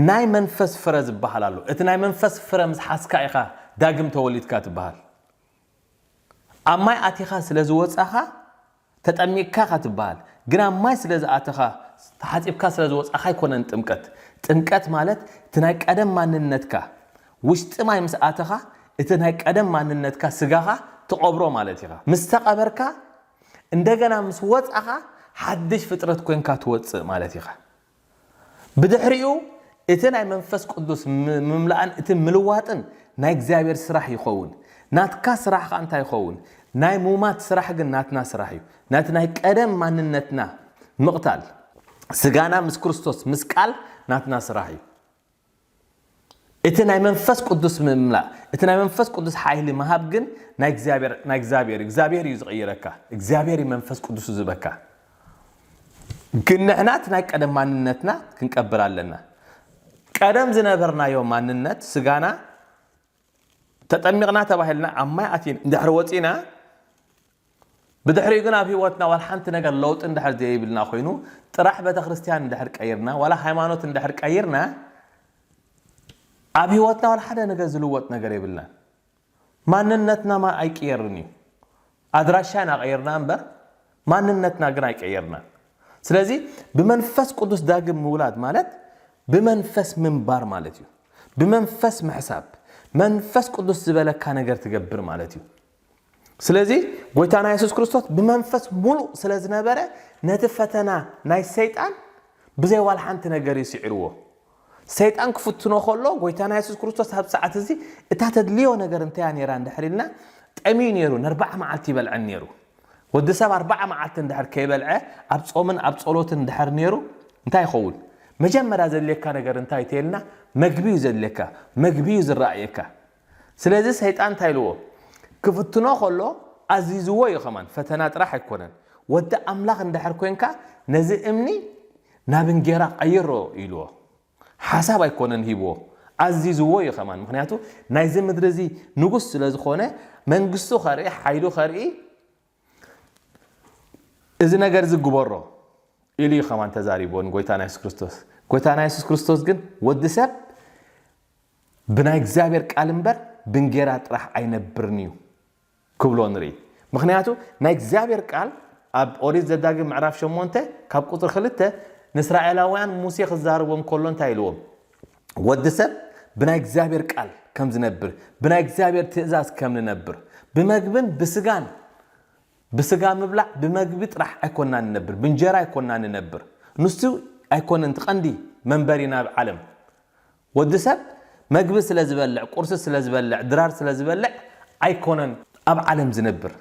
ናይ መንፈስ ፍረ ዝበሃል ኣሎ። እቲ ናይ መንፈስ ፍረ ምስ ሓዝካ ኢኻ ዳግም ተወሊድካ ትበሃል። ኣብ ማይ ኣቲኻ ስለ ዝወጻኻ ተጠሚቅካ ኢኻ ትበሃል። ግን ኣብ ማይ ስለ ዝኣተኻ ተሓጺብካ ስለ ዝወጻኻ ኣይኮነን ጥምቀት። ጥምቀት ማለት እቲ ናይ ቀደም ማንነትካ ውሽጢ ማይ ምስ ኣተኻ እቲ ናይ ቀደም ማንነትካ ስጋኻ ትቐብሮ ማለት ኢኻ። ምስ ተቐበርካ እንደገና ምስ ወጻኻ ሓድሽ ፍጥረት ኮንካ ትወጽእ ማለት ኢኻ። ብድሕሪኡ እቲ ናይ መንፈስ ቅዱስ ምምላእን እቲ ምልዋጥን ናይ እግዚኣብሔር ስራሕ ይኸውን። ናትካ ስራሕ ኸኣ እንታይ ይኸውን? ናይ ሙማት ስራሕ ግን ናትና ስራሕ እዩ። ነቲ ናይ ቀደም ማንነትና ምቕታል ስጋና ምስ ክርስቶስ ምስቃል ናትና ስራሕ እዩ። እቲ ናይ መንፈስ ቅዱስ ምምላእ እቲ ናይ መንፈስ ቅዱስ ሓይሊ ምሃብ ግን ናይ እግዚኣብሔር ናይ እግዚኣብሔር እግዚኣብሔር እዩ ዝቕይረካ እግዚኣብሔር እዩ መንፈስ ቅዱሱ ዝበካ ግን ንሕና እቲ ናይ ቀደም ማንነትና ክንቀብር ኣለና ቀደም ዝነበርናዮ ማንነት ስጋና ተጠሚቕና ተባሂልና ኣብ ማይ ኣቲን እንድሕር ወጺእና ብድሕሪኡ ግን ኣብ ህይወትና ዋላ ሓንቲ ነገር ለውጢ እንድሕር ዘይብልና ኮይኑ ጥራሕ ቤተክርስትያን እንድሕር ቀይርና ዋላ ሃይማኖት እንድሕር ቀይርና ኣብ ህይወትና ዋላ ሓደ ነገር ዝልወጥ ነገር የብልና ማንነትና ማ ኣይቅየርን እዩ ኣድራሻ ኢና ቀይርና እምበር ማንነትና ግን ኣይቀየርናን። ስለዚ ብመንፈስ ቅዱስ ዳግም ምውላድ ማለት ብመንፈስ ምንባር ማለት እዩ። ብመንፈስ ምሕሳብ፣ መንፈስ ቅዱስ ዝበለካ ነገር ትገብር ማለት እዩ። ስለዚ ጎይታና የሱስ ክርስቶስ ብመንፈስ ሙሉእ ስለ ዝነበረ ነቲ ፈተና ናይ ሰይጣን ብዘይ ዋላ ሓንቲ ነገር እዩ ስዒርዎ። ሰይጣን ክፍትኖ ከሎ ጎይታና የሱስ ክርስቶስ ኣብ ሰዓት እዚ እታ ተድልዮ ነገር እንታይ እያ ነይራ እንድሕር ኢልና ጠምዩ ነይሩ ንኣርባዓ መዓልቲ ይበልዐን ነይሩ ወዲ ሰብ ኣርባዓ መዓልቲ እንድሕር ከይበልዐ ኣብ ጾምን ኣብ ጸሎትን እንድሕር ነይሩ እንታይ ይኸውን መጀመርያ ዘድልየካ ነገር እንታይ ተይልና መግቢ እዩ ዘድልየካ መግቢ እዩ ዝረኣየካ ስለዚ ሰይጣን እንታይ ኢልዎ ክፍትኖ ከሎ ኣዚዝዎ እዩ ከማን ፈተና ጥራሕ ኣይኮነን ወዲ ኣምላኽ እንድሕር ኮንካ ነዚ እምኒ ናብ እንጌራ ቀይሮ ኢልዎ ሓሳብ ኣይኮነን ሂብዎ ኣዚዝዎ እዩ ከማን ምክንያቱ ናይዚ ምድሪ እዚ ንጉስ ስለ ዝኾነ መንግስቱ ከርኢ ሓይሉ ከርኢ እዚ ነገር እዚ ግበሮ ኢሉ እዩ ከማን ተዛሪብዎ ንጎይታና የሱስ ክርስቶስ ጎይታና የሱስ ክርስቶስ ግን ወዲ ሰብ ብናይ እግዚኣብሔር ቃል እምበር ብንጌራ ጥራሕ ኣይነብርን እዩ ክብሎ ንርኢ ምክንያቱ ናይ እግዚኣብሔር ቃል ኣብ ኦሪት ዘዳግም ምዕራፍ ሸሞንተ ካብ ቁፅሪ ክልተ ንስራኤላውያን ሙሴ ክዛረቦም ከሎ እንታይ ኢልዎም ወዲ ሰብ ብናይ እግዚኣብሔር ቃል ከም ዝነብር ብናይ እግዚኣብሔር ትእዛዝ ከም ንነብር ብመግብን ብስጋን ብስጋ ምብላዕ ብመግቢ ጥራሕ ኣይኮና ንነብር ብንጀራ ኣይኮና ንነብር ንሱ ኣይኮነን ትቀንዲ መንበሪና ኣብ ዓለም ወዲ ሰብ መግቢ ስለ ዝበልዕ፣ ቁርሲ ስለ ዝበልዕ፣ ድራር ስለ ዝበልዕ ኣይኮነን ኣብ ዓለም ዝነብር።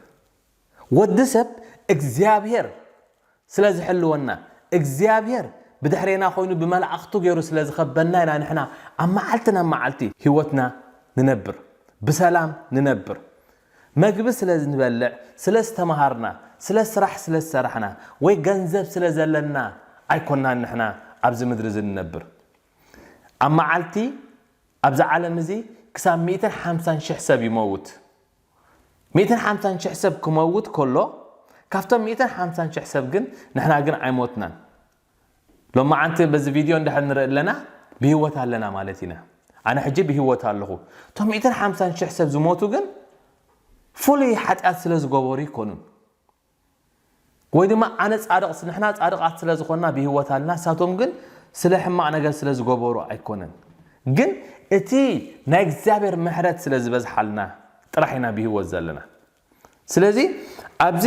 ወዲ ሰብ እግዚኣብሔር ስለ ዝሕልወና፣ እግዚኣብሔር ብድሕሬና ኮይኑ ብመላእኽቱ ገይሩ ስለ ዝኸበና ኢና ንሕና ኣብ መዓልቲ ናብ መዓልቲ ሕይወትና ንነብር። ብሰላም ንነብር። መግቢ ስለ ንበልዕ፣ ስለ ዝተመሃርና፣ ስለ ስራሕ ስለ ዝሰራሕና ወይ ገንዘብ ስለ ዘለና ኣይኮናን ንሕና ኣብዚ ምድሪ እዚ ንነብር። ኣብ መዓልቲ ኣብዚ ዓለም እዚ ክሳብ ሚእትን ሓምሳን ሽሕ ሰብ ይመውት። ሚእትን ሓምሳን ሽሕ ሰብ ክመውት ከሎ ካብቶም ሚእትን ሓምሳን ሽሕ ሰብ ግን ንሕና ግን ኣይሞትናን። ሎመዓንቲ በዚ ቪድዮ እንድሕር ንርኢ ኣለና ብህይወት ኣለና ማለት ኢና። ኣነ ሕጂ ብህይወት ኣለኹ። እቶም ሚእትን ሓምሳን ሽሕ ሰብ ዝሞቱ ግን ፍሉይ ሓጢኣት ስለ ዝገበሩ ኣይኮኑን። ወይ ድማ ኣነ ጻድቕ ንሕና ጻድቓት ስለ ዝኾንና ብህይወት ኣለና ንሳቶም ግን ስለ ሕማቕ ነገር ስለ ዝገበሩ ኣይኮነን ግን እቲ ናይ እግዚኣብሔር ምሕረት ስለ ዝበዝሓልና ጥራሕ ኢና ብህይወት ዘለና ስለዚ ኣብዚ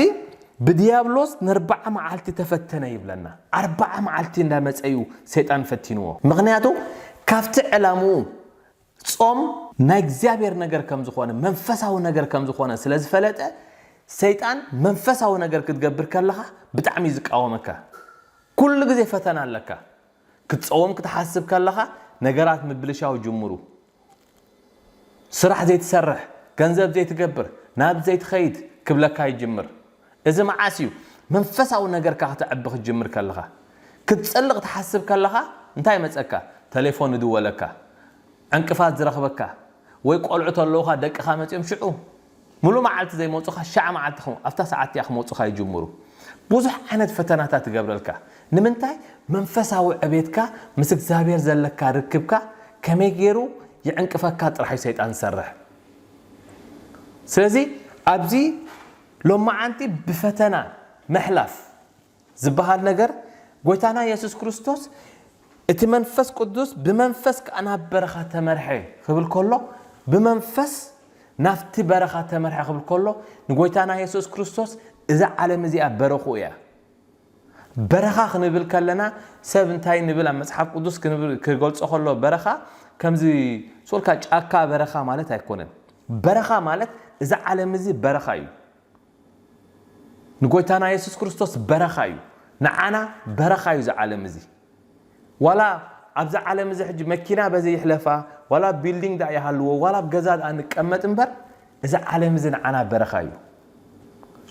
ብድያብሎስ ንርብዓ መዓልቲ ተፈተነ ይብለና ኣርብዓ መዓልቲ እንዳመጸዩ ሰይጣን ፈቲንዎ ምክንያቱ ካብቲ ዕላምኡ ጾም ናይ እግዚኣብሔር ነገር ከም ዝኾነ መንፈሳዊ ነገር ከም ዝኾነ ስለ ዝፈለጠ ሰይጣን መንፈሳዊ ነገር ክትገብር ከለኻ ብጣዕሚ እዩ ዝቃወመካ። ኩሉ ግዜ ፈተና ኣለካ። ክትጸውም ክትሓስብ ከለኻ ነገራት ምብልሻው ጅምሩ። ስራሕ ዘይትሰርሕ፣ ገንዘብ ዘይትገብር፣ ናብ ዘይትኸይድ ክብለካ ይጅምር። እዚ መዓስ እዩ መንፈሳዊ ነገርካ ከተዕቢ ክትጅምር ከለኻ? ክትጸሊ ክትሓስብ ከለኻ እንታይ ይመጸካ? ተሌፎን ይድወለካ? ዕንቅፋት ዝረኽበካ? ወይ ቆልዑ ተለዉኻ ደቅኻ መጺኦም ሽዑ? ምሉእ መዓልቲ ዘይመጹኻ ሽዓ መዓልቲ ከም ኣብታ ሰዓት እቲኣ ክመጹኻ ይጅምሩ። ብዙሕ ዓይነት ፈተናታት ይገብረልካ። ንምንታይ? መንፈሳዊ ዕቤትካ ምስ እግዚኣብሄር ዘለካ ርክብካ ከመይ ጌሩ ይዕንቅፈካ ጥራሕ እዩ ሰይጣን ዝሰርሕ። ስለዚ ኣብዚ ሎማዓንቲ ብፈተና ምሕላፍ ዝብሃል ነገር ጎይታና የሱስ ክርስቶስ እቲ መንፈስ ቅዱስ ብመንፈስ ከኣ ናብ በረኻ ተመርሐ ክብል ከሎ ብመንፈስ ናብቲ በረኻ ተመርሐ ክብል ከሎ ንጎይታና የሱስ ክርስቶስ እዛ ዓለም እዚኣ በረኽኡ እያ። በረኻ ክንብል ከለና ሰብ እንታይ ንብል ኣብ መጽሓፍ ቅዱስ ክገልጾ ከሎ በረኻ ከምዚ ሱርካ ጫካ በረኻ ማለት ኣይኮነን በረኻ ማለት እዚ ዓለም እዚ በረኻ እዩ ንጎይታና የሱስ ክርስቶስ በረኻ እዩ ንዓና በረኻ እዩ እዚ ዓለም እዚ ዋላ ኣብዛ ዓለም እዚ ሕጂ መኪና በዚ ይሕለፋ ዋላ ቢልዲንግ ዳኣ ይሃልዎ ዋላ ኣብ ገዛ ዳኣ ንቀመጥ እምበር እዚ ዓለም እዚ ንዓና በረኻ እዩ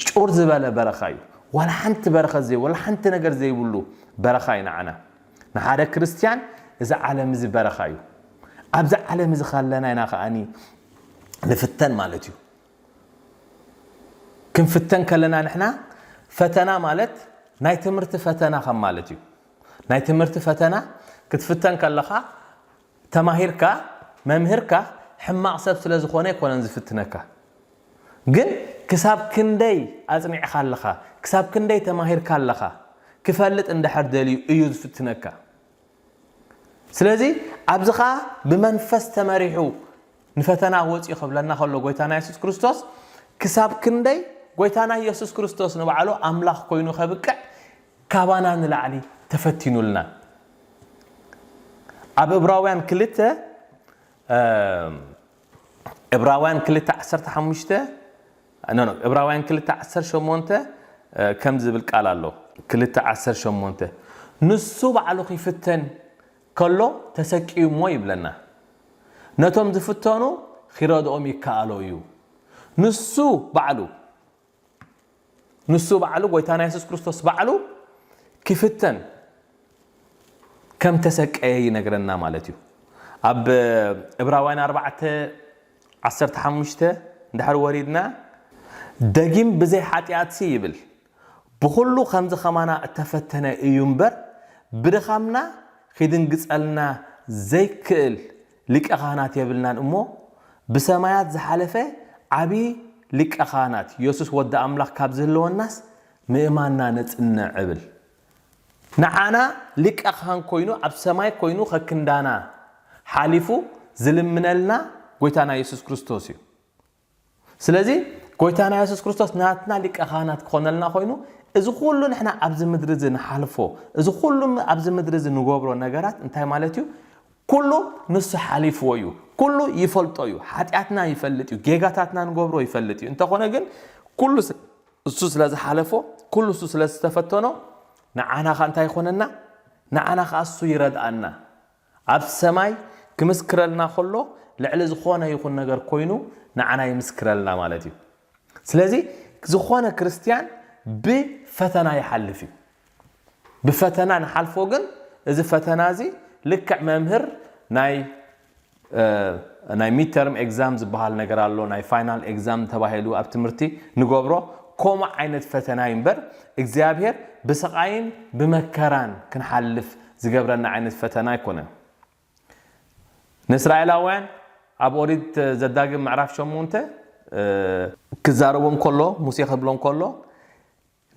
ጩር ዝበለ በረኻ እዩ ዋላ ሓንቲ በረኸት ዘይ ዋላ ሓንቲ ነገር ዘይብሉ በረኻ እዩ ንዓና ንሓደ ክርስትያን እዚ ዓለም እዚ በረኻ እዩ ኣብዚ ዓለም እዚ ካለና ኢና ከዓኒ ንፍተን ማለት እዩ ክንፍተን ከለና ንሕና ፈተና ማለት ናይ ትምህርቲ ፈተና ከም ማለት እዩ ናይ ትምህርቲ ፈተና ክትፍተን ከለኻ ተማሂርካ መምህርካ ሕማቕ ሰብ ስለ ዝኾነ ኣይኮነን ዝፍትነካ ግን ክሳብ ክንደይ ኣጽኒዕካ ኣለኻ ክሳብ ክንደይ ተማሂርካ ኣለኻ ክፈልጥ እንድሕር ደልዩ እዩ ዝፍትነካ ስለዚ ኣብዚ ከኣ ብመንፈስ ተመሪሑ ንፈተና ወጽኡ ክብለና ከሎ ጎይታና የሱስ ክርስቶስ ክሳብ ክንደይ ጎይታና የሱስ ክርስቶስ ንባዕሉ ኣምላኽ ኮይኑ ከብቅዕ ካባና ንላዕሊ ተፈቲኑልና ኣብ እብራውያን ክልተ ዕብራውያን ክልተ ዓሰርተ ሓሙሽተ no no ዕብራውያን ክልተ ዓሰርተ ሸሞንተ ከምዚ ዝብል ቃል ኣሎ ክልተ ዓሰርተ ሸሞንተ ንሱ ባዕሉ ኺፍተን ከሎ ተሰቅዩ እሞ ይብለና ነቶም ዝፍተኑ ኺረድኦም ይከኣሎ እዩ ንሱ ባዕሉ ንሱ ባዕሉ ጎይታና የሱስ ክርስቶስ ባዕሉ ክፍተን ከም ተሰቀየ ይነግረና ማለት እዩ ኣብ እብራውያን ኣርባዕተ ዓሰርተ ሓሙሽተ እንድሕር ወሪድና ደጊም ብዘይ ሓጢኣትሲ ይብል ብኹሉ ከምዚ ከማና እተፈተነ እዩ እምበር ብድኻምና ኺድንግጸልና ዘይክእል ሊቀ ካህናት የብልናን እሞ ብሰማያት ዝሓለፈ ዓብዪ ሊቀ ካህናት የሱስ ወዲ ኣምላኽ ካብ ዝህልወናስ ምእማንና ነጽንዕ እብል። ንዓና ሊቀ ካህን ኮይኑ ኣብ ሰማይ ኮይኑ ከክንዳና ሓሊፉ ዝልምነልና ጎይታና የሱስ ክርስቶስ እዩ። ስለዚ ጎይታና የሱስ ክርስቶስ ናትና ሊቀ ካህናት ክኾነልና ኮይኑ እዚ ኩሉ ንሕና ኣብዚ ምድሪ እዚ ንሓልፎ እዚ ኩሉ ኣብዚ ምድሪ እዚ ንገብሮ ነገራት እንታይ ማለት እዩ ኩሉ ንሱ ሓሊፍዎ እዩ ኩሉ ይፈልጦ እዩ ሓጢኣትና ይፈልጥ እዩ ጌጋታትና ንገብሮ ይፈልጥ እዩ እንተኾነ ግን ኩሉ እሱ ስለ ዝሓለፎ ኩሉ እሱ ስለ ዝተፈተኖ ንዓና ኸ እንታይ ይኾነና ንዓና ኸ እሱ ይረድኣና ኣብ ሰማይ ክምስክረልና ከሎ ልዕሊ ዝኾነ ይኹን ነገር ኮይኑ ንዓና ይምስክረልና ማለት እዩ። ስለዚ ዝኾነ ክርስትያን ብፈተና ይሓልፍ እዩ። ብፈተና ንሓልፎ ግን እዚ ፈተና እዚ ልክዕ መምህር ናይ ናይ ሚድተርም ኤግዛም ዝበሃል ነገር ኣሎ ናይ ፋይናል ኤግዛም ተባሂሉ ኣብ ትምህርቲ ንገብሮ ከምኡ ዓይነት ፈተና እዩ እምበር እግዚኣብሄር ብስቓይን ብመከራን ክንሓልፍ ዝገብረና ዓይነት ፈተና ኣይኮነን። ንእስራኤላውያን ኣብ ኦሪት ዘዳግም ምዕራፍ ሸሞንተ ክዛረቦም ከሎ ሙሴ ክብሎም ከሎ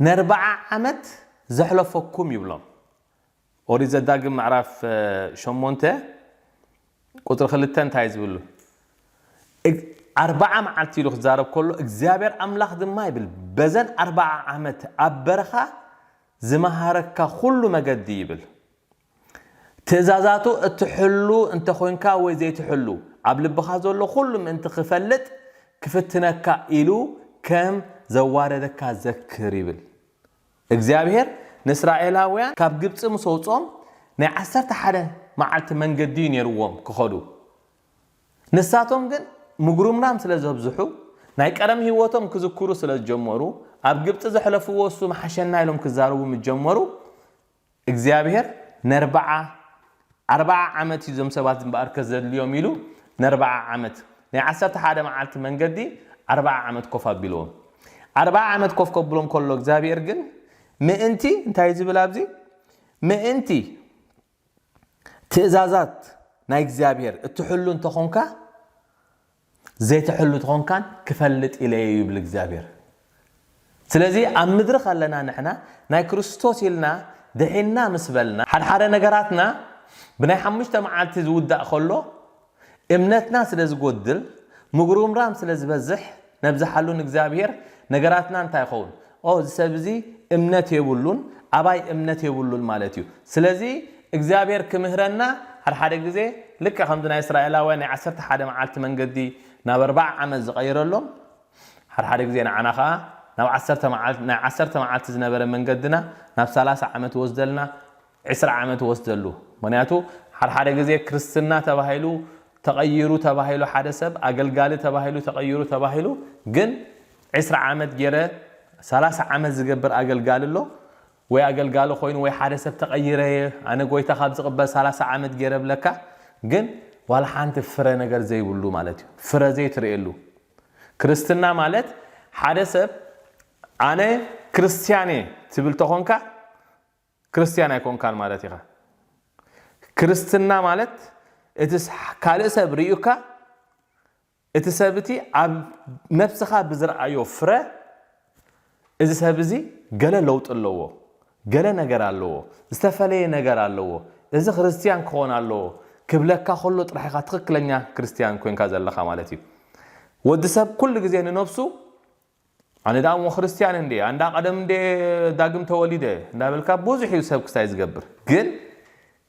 ነርብዓ ዓመት ዘሕለፈኩም ይብሎም። ኦሪት ዘዳግም ምዕራፍ ሸሞንተ ቁፅሪ ክልተ እንታይ ዝብሉ ኣርብዓ መዓልቲ ኢሉ ክዛረብ ከሎ እግዚኣብሔር ኣምላኽ ድማ ይብል በዘን ኣርብዓ ዓመት ኣብ በረኻ ዝመሃረካ ዅሉ መገዲ ይብል። ትእዛዛቱ እትሕሉ እንተ ዄንካ ወይ ዘይትሕሉ፣ ኣብ ልብኻ ዘሎ ዅሉ ምእንቲ ኺፈልጥ ኪፍትነካ ኢሉ ከም ዘዋረደካ ዘክር ይብል። እግዚኣብሄር ንእስራኤላውያን ካብ ግብጺ ምስ ኣውጽኦም ናይ ዓሰርተ ሓደ መዓልቲ መንገዲ እዩ ነይርዎም ኪኸዱ። ንሳቶም ግን ምጉርምራም ስለ ዘብዝሑ፣ ናይ ቀደም ህይወቶም ክዝክሩ ስለ ዝጀመሩ፣ ኣብ ግብጺ ዘሕለፍዎ እሱ ምሓሸና ኢሎም ክዛረቡ ምስ ጀመሩ፣ እግዚኣብሄር ነርብዓ፣ ኣርብዓ ዓመት እዩ እዞም ሰባት እምበኣርከ ዘድልዮም ኢሉ ነርብዓ ዓመት፣ ናይ ዓሰርተ ሓደ መዓልቲ መንገዲ ኣርብዓ ዓመት ኮፍ ኣቢልዎም። ኣርብዓ ዓመት ኮፍ ከብሎም ከሎ እግዚኣብሄር ግን ምእንቲ እንታይ እዩ ዝብል ኣብዚ ምእንቲ ትእዛዛት ናይ እግዚኣብሔር እትሕሉ እንተኾንካ ዘይተሕሉ ተኾንካን ክፈልጥ ኢለ እየ ይብል እግዚኣብሔር ስለዚ ኣብ ምድሪ ከለና ንሕና ናይ ክርስቶስ ኢልና ድሒና ምስ በልና ሓድሓደ ነገራትና ብናይ ሓሙሽተ መዓልቲ ዝውዳእ ከሎ እምነትና ስለ ዝጎድል ምጉርምራም ስለ ዝበዝሕ ነብዝሓሉ ንእግዚኣብሄር ነገራትና እንታይ ይኸውን ኦ እዚ ሰብ እዚ እምነት የብሉን ኣባይ እምነት የብሉን ማለት እዩ ስለዚ እግዚኣብሄር ክምህረና ሓድሓደ ግዜ ልክዕ ከምዚ ናይ እስራኤላውያን ናይ ዓሰርተ ሓደ መዓልቲ መንገዲ ናብ ኣርብዓ ዓመት ዝቐይረሎም ሓድሓደ ግዜ ንዓና ከኣ ናብ ዓሰርተ መዓልቲ ናይ ዓሰርተ መዓልቲ ዝነበረ መንገድና ናብ ሰላሳ ዓመት ይወስደልና ዕስራ ዓመት ይወስደሉ ምክንያቱ ሓድሓደ ግዜ ክርስትና ተባሂሉ ተቀይሩ ተባሂሉ ሓደ ሰብ ኣገልጋሊ ተባሂሉ ተቀይሩ ተባሂሉ ግን ዕስራ ዓመት ጌረ ሰላሳ ዓመት ዝገብር ኣገልጋሊ ኣሎ ወይ ኣገልጋሊ ኮይኑ ወይ ሓደ ሰብ ተቀይረ እየ ኣነ ጎይታ ካብ ዝቅበል ሰላሳ ዓመት ጌረ እብለካ ግን ዋላ ሓንቲ ፍረ ነገር ዘይብሉ ማለት እዩ ፍረ ዘይትርእየሉ ክርስትና ማለት ሓደ ሰብ ኣነ ክርስትያን እየ ትብል ተኮንካ ክርስትያን ኣይኮንካን ማለት ኢኻ። ክርስትና ማለት እቲ ካልእ ሰብ ርእዩካ እቲ ሰብ እቲ ኣብ ነብስኻ ብዝርኣዮ ፍረ እዚ ሰብ እዚ ገለ ለውጢ ኣለዎ፣ ገለ ነገር ኣለዎ፣ ዝተፈለየ ነገር ኣለዎ፣ እዚ ክርስትያን ክኾን ኣለዎ ክብለካ ከሎ ጥራሕ ኢኻ ትኽክለኛ ክርስትያን ኮንካ ዘለኻ ማለት እዩ። ወዲ ሰብ ኩሉ ግዜ ንነብሱ ኣነ ደኣ እሞ ክርስትያን እንድየ ኣንዳ ቀደም እንድየ ዳግም ተወሊደ እንዳበልካ ብዙሕ እዩ ሰብ ክስታይ ዝገብር ግን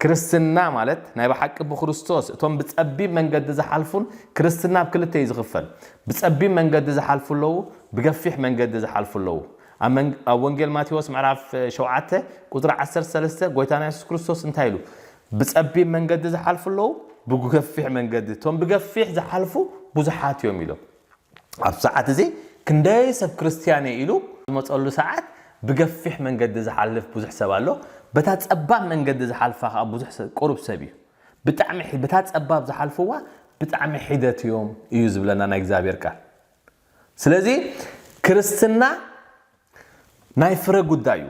ክርስትና ማለት ናይ ብሓቂ ብክርስቶስ እቶም ብጸቢብ መንገዲ ዝሓልፉን ክርስትና ኣብ ክልተ እዩ ዝኽፈል ብጸቢብ መንገዲ ዝሓልፉ ኣለዉ ብገፊሕ መንገዲ ዝሓልፉ ኣለዉ ኣብ ወንጌል ማቴዎስ ምዕራፍ ሸውዓተ ቁጽሪ ዓሰርተ ሰለስተ ጎይታና የሱስ ክርስቶስ እንታይ ኢሉ ብጸቢብ መንገዲ ዝሓልፉ ኣለዉ ብገፊሕ መንገዲ እቶም ብገፊሕ ዝሓልፉ ብዙሓት እዮም ኢሎም ኣብዚ ሰዓት እዚ ክንደይ ሰብ ክርስትያን እየ ኢሉ ዝመጸሉ ሰዓት ብገፊሕ መንገዲ ዝሓልፍ ብዙሕ ሰብ ኣሎ በታ ጸባብ መንገዲ ዝሓልፋ ከኣ ብዙሕ ቁሩብ ሰብ እዩ ብጣዕሚ በታ ጸባብ ዝሓልፍዋ ብጣዕሚ ሒደት እዮም እዩ ዝብለና ናይ እግዚኣብሔር ቃል ስለዚ ክርስትና ናይ ፍረ ጉዳይ እዩ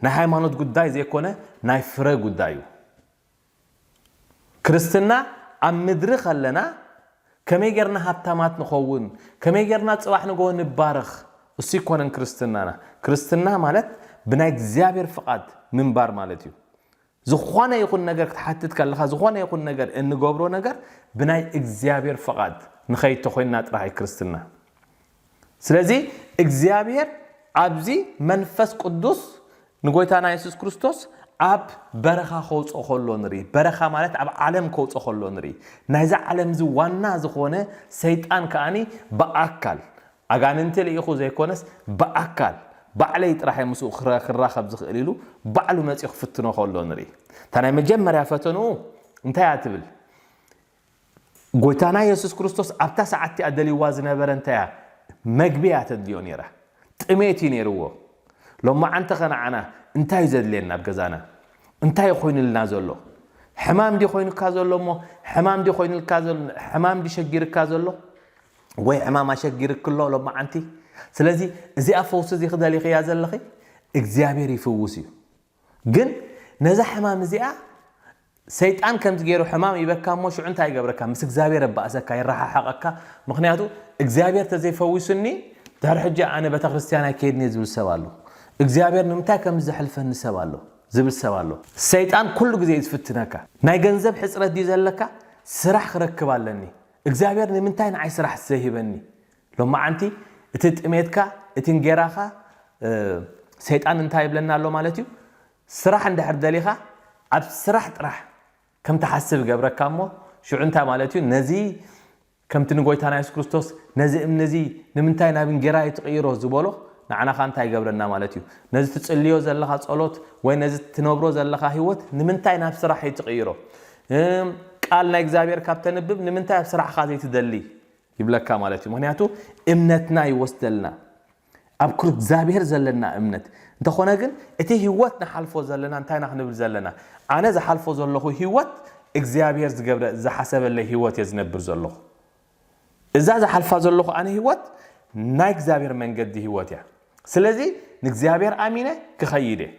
ናይ ሃይማኖት ጉዳይ ዘይኮነ ናይ ፍረ ጉዳይ እዩ ክርስትና ኣብ ምድሪ ከለና ከመይ ጌርና ሃብታማት ንኸውን፣ ከመይ ጌርና ጽባሕ ንግሆ ንባረኽ፣ እሱ ኣይኮነን ክርስትናና። ክርስትና ማለት ብናይ እግዚኣብሔር ፍቓድ ምንባር ማለት እዩ። ዝኾነ ይኹን ነገር ክትሓትት ከለኻ ዝኾነ ይኹን ነገር እንገብሮ ነገር ብናይ እግዚኣብሔር ፍቓድ ንኸይድ ተኾይንና ጥራሕ እዩ ክርስትና። ስለዚ እግዚኣብሔር ኣብዚ መንፈስ ቅዱስ ንጎይታና የሱስ ክርስቶስ ኣብ በረኻ ከውፅኦ ከሎ ንርኢ በረኻ ማለት ኣብ ዓለም ከውፅኦ ከሎ ንርኢ ናይዛ ዓለም እዚ ዋና ዝኾነ ሰይጣን ከዓኒ ብኣካል ኣጋንንቲ ልኢኹ ዘይኮነስ ብኣካል ባዕለይ ጥራሕ ምስኡ ክራኸብ ዝኽእል ኢሉ ባዕሉ መፂኡ ክፍትኖ ከሎ ንርኢ እታ ናይ መጀመርያ ፈተንኡ እንታይ እያ ትብል ጎይታና የሱስ ክርስቶስ ኣብታ ሰዓት እቲኣ ደልይዋ ዝነበረ እንታይ እያ? መግቢ እያ ተድልዮ ነይራ። ጥሜት እዩ ነይርዎ። ሎማዓንቲኸ ንዓና እንታይ እዩ ዘድልየና ኣብ ገዛና? እንታይ እዩ ኮይኑልና ዘሎ? ሕማም ድዩ ኮይኑካ ዘሎ እሞ ሕማም ድዩ ኮይኑልካ ዘሎ ሕማም ድዩ ሸጊርካ ዘሎ ወይ ሕማም ኣሸጊርክ ኣሎ ሎማዓንቲ? ስለዚ እዚኣ ፈውሲ እዚ ክደሊኽያ ዘለኺ እግዚኣብሔር ይፍውስ እዩ። ግን ነዛ ሕማም እዚኣ ሰይጣን ከምዚ ገይሩ ሕማም ይበካ እሞ ሽዑ እንታይ ይገብረካ ምስ እግዚኣብሔር ኣባእሰካ ይረሓሓቐካ ምክንያቱ እግዚኣብሔር ተዘይፈዊሱኒ ድሕሪ ሕጂ ኣነ ቤተክርስትያን ኣይከይድን እየ ዝብል ሰብ ኣሎ እግዚኣብሔር ንምንታይ ከም ዘሕልፈኒ ሰብ ኣሎ ዝብል ሰብ ኣሎ ሰይጣን ኩሉ ግዜ እዩ ዝፍትነካ ናይ ገንዘብ ሕፅረት ድዩ ዘለካ ስራሕ ክረክብ ኣለኒ እግዚኣብሔር ንምንታይ ንዓይ ስራሕ ዘይህበኒ ሎማዓንቲ እቲ ጥሜትካ እቲ እንጌራኻ ሰይጣን እንታይ ይብለና ኣሎ ማለት እዩ ስራሕ እንድሕር ደሊኻ ኣብ ስራሕ ጥራሕ ከም ትሓስብ ይገብረካ እሞ ሽዑ እንታይ ማለት እዩ ነዚ ከምቲ ንጎይታና የሱስ ክርስቶስ ነዚ እምኒ እዚ ንምንታይ ናብ እንጌራ ኣይትቕይሮ ዝበሎ ንዓና ኸኣ እንታይ ይገብረና ማለት እዩ ነዚ ትጽልዮ ዘለኻ ጸሎት ወይ ነዚ ትነብሮ ዘለኻ ህይወት ንምንታይ ናብ ስራሕ ኣይትቕይሮ ቃል ናይ እግዚኣብሔር ካብ ተንብብ ንምንታይ ኣብ ስራሕኻ ዘይትደሊ ይብለካ ማለት እዩ ምክንያቱ እምነትና ይወስደልና ኣብ ክርግዛብሄር ዘለና እምነት እንተኾነ ግን እቲ ህይወት ንሓልፎ ዘለና እንታይ ኢና ክንብል ዘለና ኣነ ዝሓልፎ ዘለኹ ህይወት እግዚኣብሄር ዝገብረ ዝሓሰበለይ ህይወት እየ ዝነብር ዘለኹ እዛ ዝሓልፋ ዘለኹ ኣነ ህይወት ናይ እግዚኣብሄር መንገዲ ህይወት እያ ስለዚ ንእግዚኣብሄር ኣሚነ ክኸይድ እየ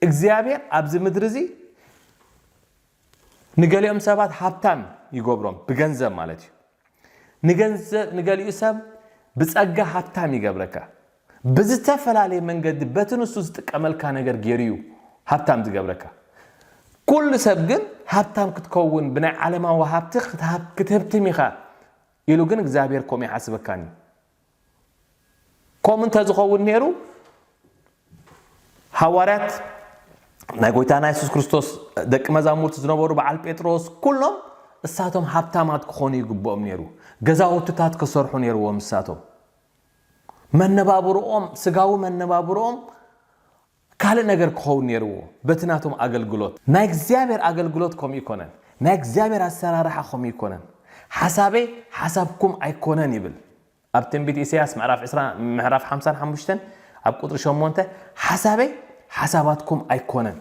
እግዚኣብሔር ኣብዚ ምድሪ እዚ ንገሊኦም ሰባት ሃብታም ይገብሮም ብገንዘብ ማለት እዩ ንገንዘብ ንገሊኡ ሰብ ብጸጋ ሃብታም ይገብረካ ብዝተፈላለየ መንገዲ በቲ ንሱ ዝጥቀመልካ ነገር ገይሩ እዩ ሃብታም ዝገብረካ ኩሉ ሰብ ግን ሃብታም ክትከውን ብናይ ዓለማዊ ሃብቲ ክትህብትም ኢኻ ኢሉ ግን እግዚኣብሔር ከምኡ ይሓስበካን እዩ ከምኡ እንተ ዝኸውን ነይሩ ሃዋርያት ናይ ጎይታና የሱስ ክርስቶስ ደቂ መዛሙርቲ ዝነበሩ በዓል ጴጥሮስ ኩሎም እሳቶም ሃብታማት ክኾኑ ይግብኦም ነይሩ ገዛውትታት ክሰርሑ ነይርዎም እሳቶም መነባብርኦም ስጋዊ መነባብርኦም ካልእ ነገር ክኸውን ነይርዎ በቲ ናቶም ኣገልግሎት። ናይ እግዚኣብሔር ኣገልግሎት ከምኡ ኣይኮነን። ናይ እግዚኣብሔር ኣሰራርሓ ከምኡ ኣይኮነን። ሓሳበይ ሓሳብኩም ኣይኮነን ይብል። ኣብ ትንቢት ኢሳይያስ ምዕራፍ ዕስራ ምዕራፍ ሓምሳን ሓሙሽተን ኣብ ቁጽሪ ሸሞንተ ሓሳበይ ሓሳባትኩም ኣይኮነን።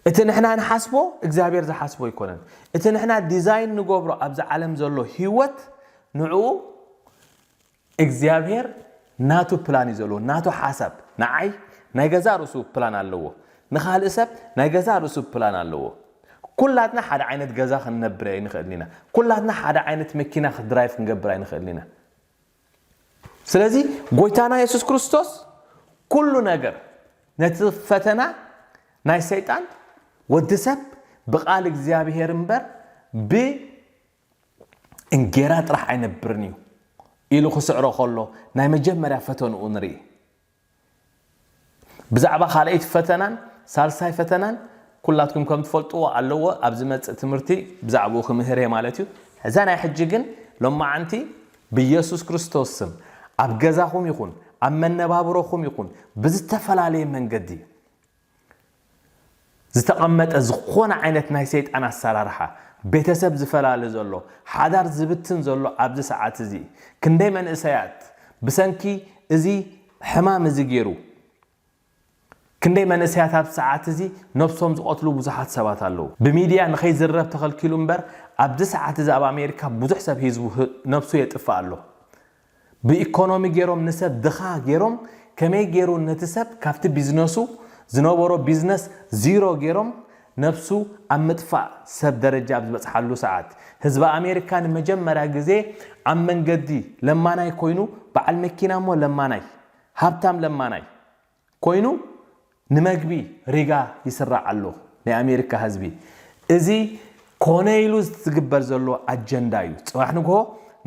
እቲ ንሕና ንሓስቦ እግዚኣብሔር ዝሓስቦ ኣይኮነን። እቲ ንሕና ዲዛይን ንገብሮ ኣብዚ ዓለም ዘሎ ህይወት ንዕኡ እግዚኣብሄር ናቱ ፕላን እዩ ዘለዎ ናቱ ሓሳብ ንዓይ ናይ ገዛእ ርእሱ ፕላን ኣለዎ ንኻልእ ሰብ ናይ ገዛእ ርእሱ ፕላን ኣለዎ ኩላትና ሓደ ዓይነት ገዛ ክንነብር ኣይንኽእልን ኢና ኩላትና ሓደ ዓይነት መኪና ክድራይቭ ክንገብር ኣይንኽእልን ኢና ስለዚ ጎይታና የሱስ ክርስቶስ ኩሉ ነገር ነቲ ፈተና ናይ ሰይጣን ወዲ ሰብ ብቃል እግዚኣብሄር እምበር ብ እንጌራ ጥራሕ ኣይነብርን እዩ ኢሉ ክስዕሮ ከሎ ናይ መጀመርያ ፈተንኡ ንርኢ። ብዛዕባ ካልኣይቲ ፈተናን ሳልሳይ ፈተናን ኩላትኩም ከም ትፈልጥዎ ኣለዎ ኣብ ዝመጽእ ትምህርቲ ብዛዕባኡ ክምህር እየ ማለት እዩ። እዛ ናይ ሕጂ ግን ሎማዓንቲ ብየሱስ ክርስቶስ ስም ኣብ ገዛኹም ይኹን ኣብ መነባብሮኹም ይኹን ብዝተፈላለየ መንገዲ ዝተቐመጠ ዝኾነ ዓይነት ናይ ሰይጣን ኣሰራርሓ፣ ቤተሰብ ዝፈላሊ ዘሎ፣ ሓዳር ዝብትን ዘሎ ኣብዚ ሰዓት እዚ ክንደይ መንእሰያት ብሰንኪ እዚ ሕማም እዚ ጌሩ ክንደይ መንእሰያት ኣብዚ ሰዓት እዚ ነብሶም ዝቐትሉ ብዙሓት ሰባት ኣለዉ። ብሚድያ ንኸይዝረብ ተኸልኪሉ እምበር ኣብዚ ሰዓት እዚ ኣብ ኣሜሪካ ብዙሕ ሰብ ህዝቡ ነብሱ የጥፍእ ኣሎ። ብኢኮኖሚ ጌሮም ንሰብ ድኻ ጌሮም ከመይ ጌሩ ነቲ ሰብ ካብቲ ቢዝነሱ ዝነበሮ ቢዝነስ ዚሮ ጌሮም ነብሱ ኣብ ምጥፋእ ሰብ ደረጃ ኣብ ዝበጽሓሉ ሰዓት ህዝቢ ኣሜሪካ ንመጀመርያ ግዜ ኣብ መንገዲ ለማናይ ኮይኑ በዓል መኪና እሞ ለማናይ ሃብታም ለማናይ ኮይኑ ንመግቢ ሪጋ ይስራዕ ኣሎ ናይ ኣሜሪካ ህዝቢ እዚ ኮነ ኢሉ ዝትግበር ዘሎ ኣጀንዳ እዩ ፅባሕ ንግሆ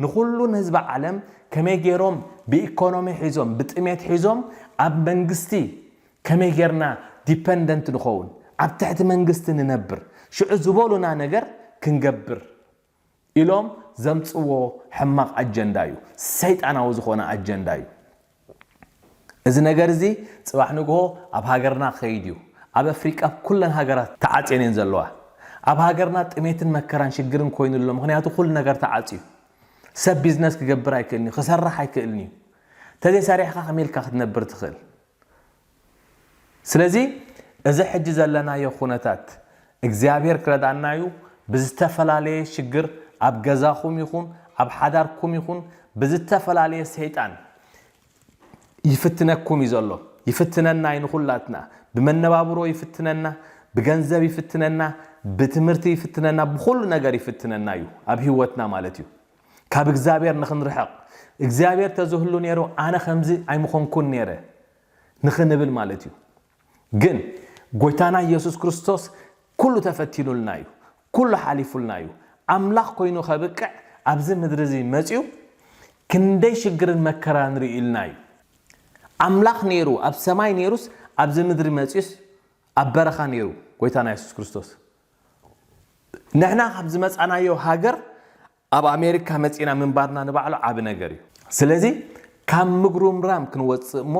ንኩሉ ንህዝቢ ዓለም ከመይ ገይሮም ብኢኮኖሚ ሒዞም ብጥሜት ሒዞም ኣብ መንግስቲ ከመይ ገይርና ዲፐንደንት ንኸውን ኣብ ትሕቲ መንግስቲ ንነብር ሽዑ ዝበሉና ነገር ክንገብር ኢሎም ዘምጽዎ ሕማቅ ኣጀንዳ እዩ ሰይጣናዊ ዝኮነ ኣጀንዳ እዩ እዚ ነገር እዚ ጽባሕ ንግሆ ኣብ ሃገርና ክከይድ እዩ ኣብ ኣፍሪቃ ኣብ ኩለን ሃገራት ተዓጽየን እየን ዘለዋ ኣብ ሃገርና ጥሜትን መከራን ሽግርን ኮይኑ ኣሎ ምክንያቱ ኩሉ ነገር ተዓጽዩ ሰብ ቢዝነስ ክገብር ኣይክእልን እዩ ክሰርሕ ኣይክእልን እዩ ተዘይ ሰሪሕካ ከመይ ኢልካ ክትነብር ትክእል ስለዚ እዚ ሕጂ ዘለናዮ ኩነታት እግዚኣብሔር ክረድኣና እዩ ብዝተፈላለየ ሽግር ኣብ ገዛኹም ይኹን ኣብ ሓዳርኩም ይኹን ብዝተፈላለየ ሰይጣን ይፍትነኩም እዩ ዘሎ ይፍትነና እዩ ንኹላትና ብመነባብሮ ይፍትነና ብገንዘብ ይፍትነና ብትምህርቲ ይፍትነና ብኹሉ ነገር ይፍትነና እዩ ኣብ ህይወትና ማለት እዩ ካብ እግዚኣብሔር ንክንርሕቕ እግዚኣብሔር ተዝህሉ ነይሩ ኣነ ከምዚ ኣይምኾንኩን ነይረ ንኽንብል ማለት እዩ። ግን ጎይታና ኢየሱስ ክርስቶስ ኩሉ ተፈቲኑልና እዩ። ኩሉ ሓሊፉልና እዩ። ኣምላኽ ኮይኑ ከብቅዕ ኣብዚ ምድሪ እዚ መጺኡ ክንደይ ሽግርን መከራን ርእዩልና እዩ። ኣምላኽ ነይሩ ኣብ ሰማይ ነይሩስ ኣብዚ ምድሪ መጺኡስ ኣብ በረኻ ነይሩ ጎይታና ኢየሱስ ክርስቶስ። ንሕና ካብ ዝመጻናዮ ሃገር ኣብ ኣሜሪካ መጺእና ምንባርና ንባዕሉ ዓቢ ነገር እዩ። ስለዚ ካብ ምጉርምራም ክንወጽእ እሞ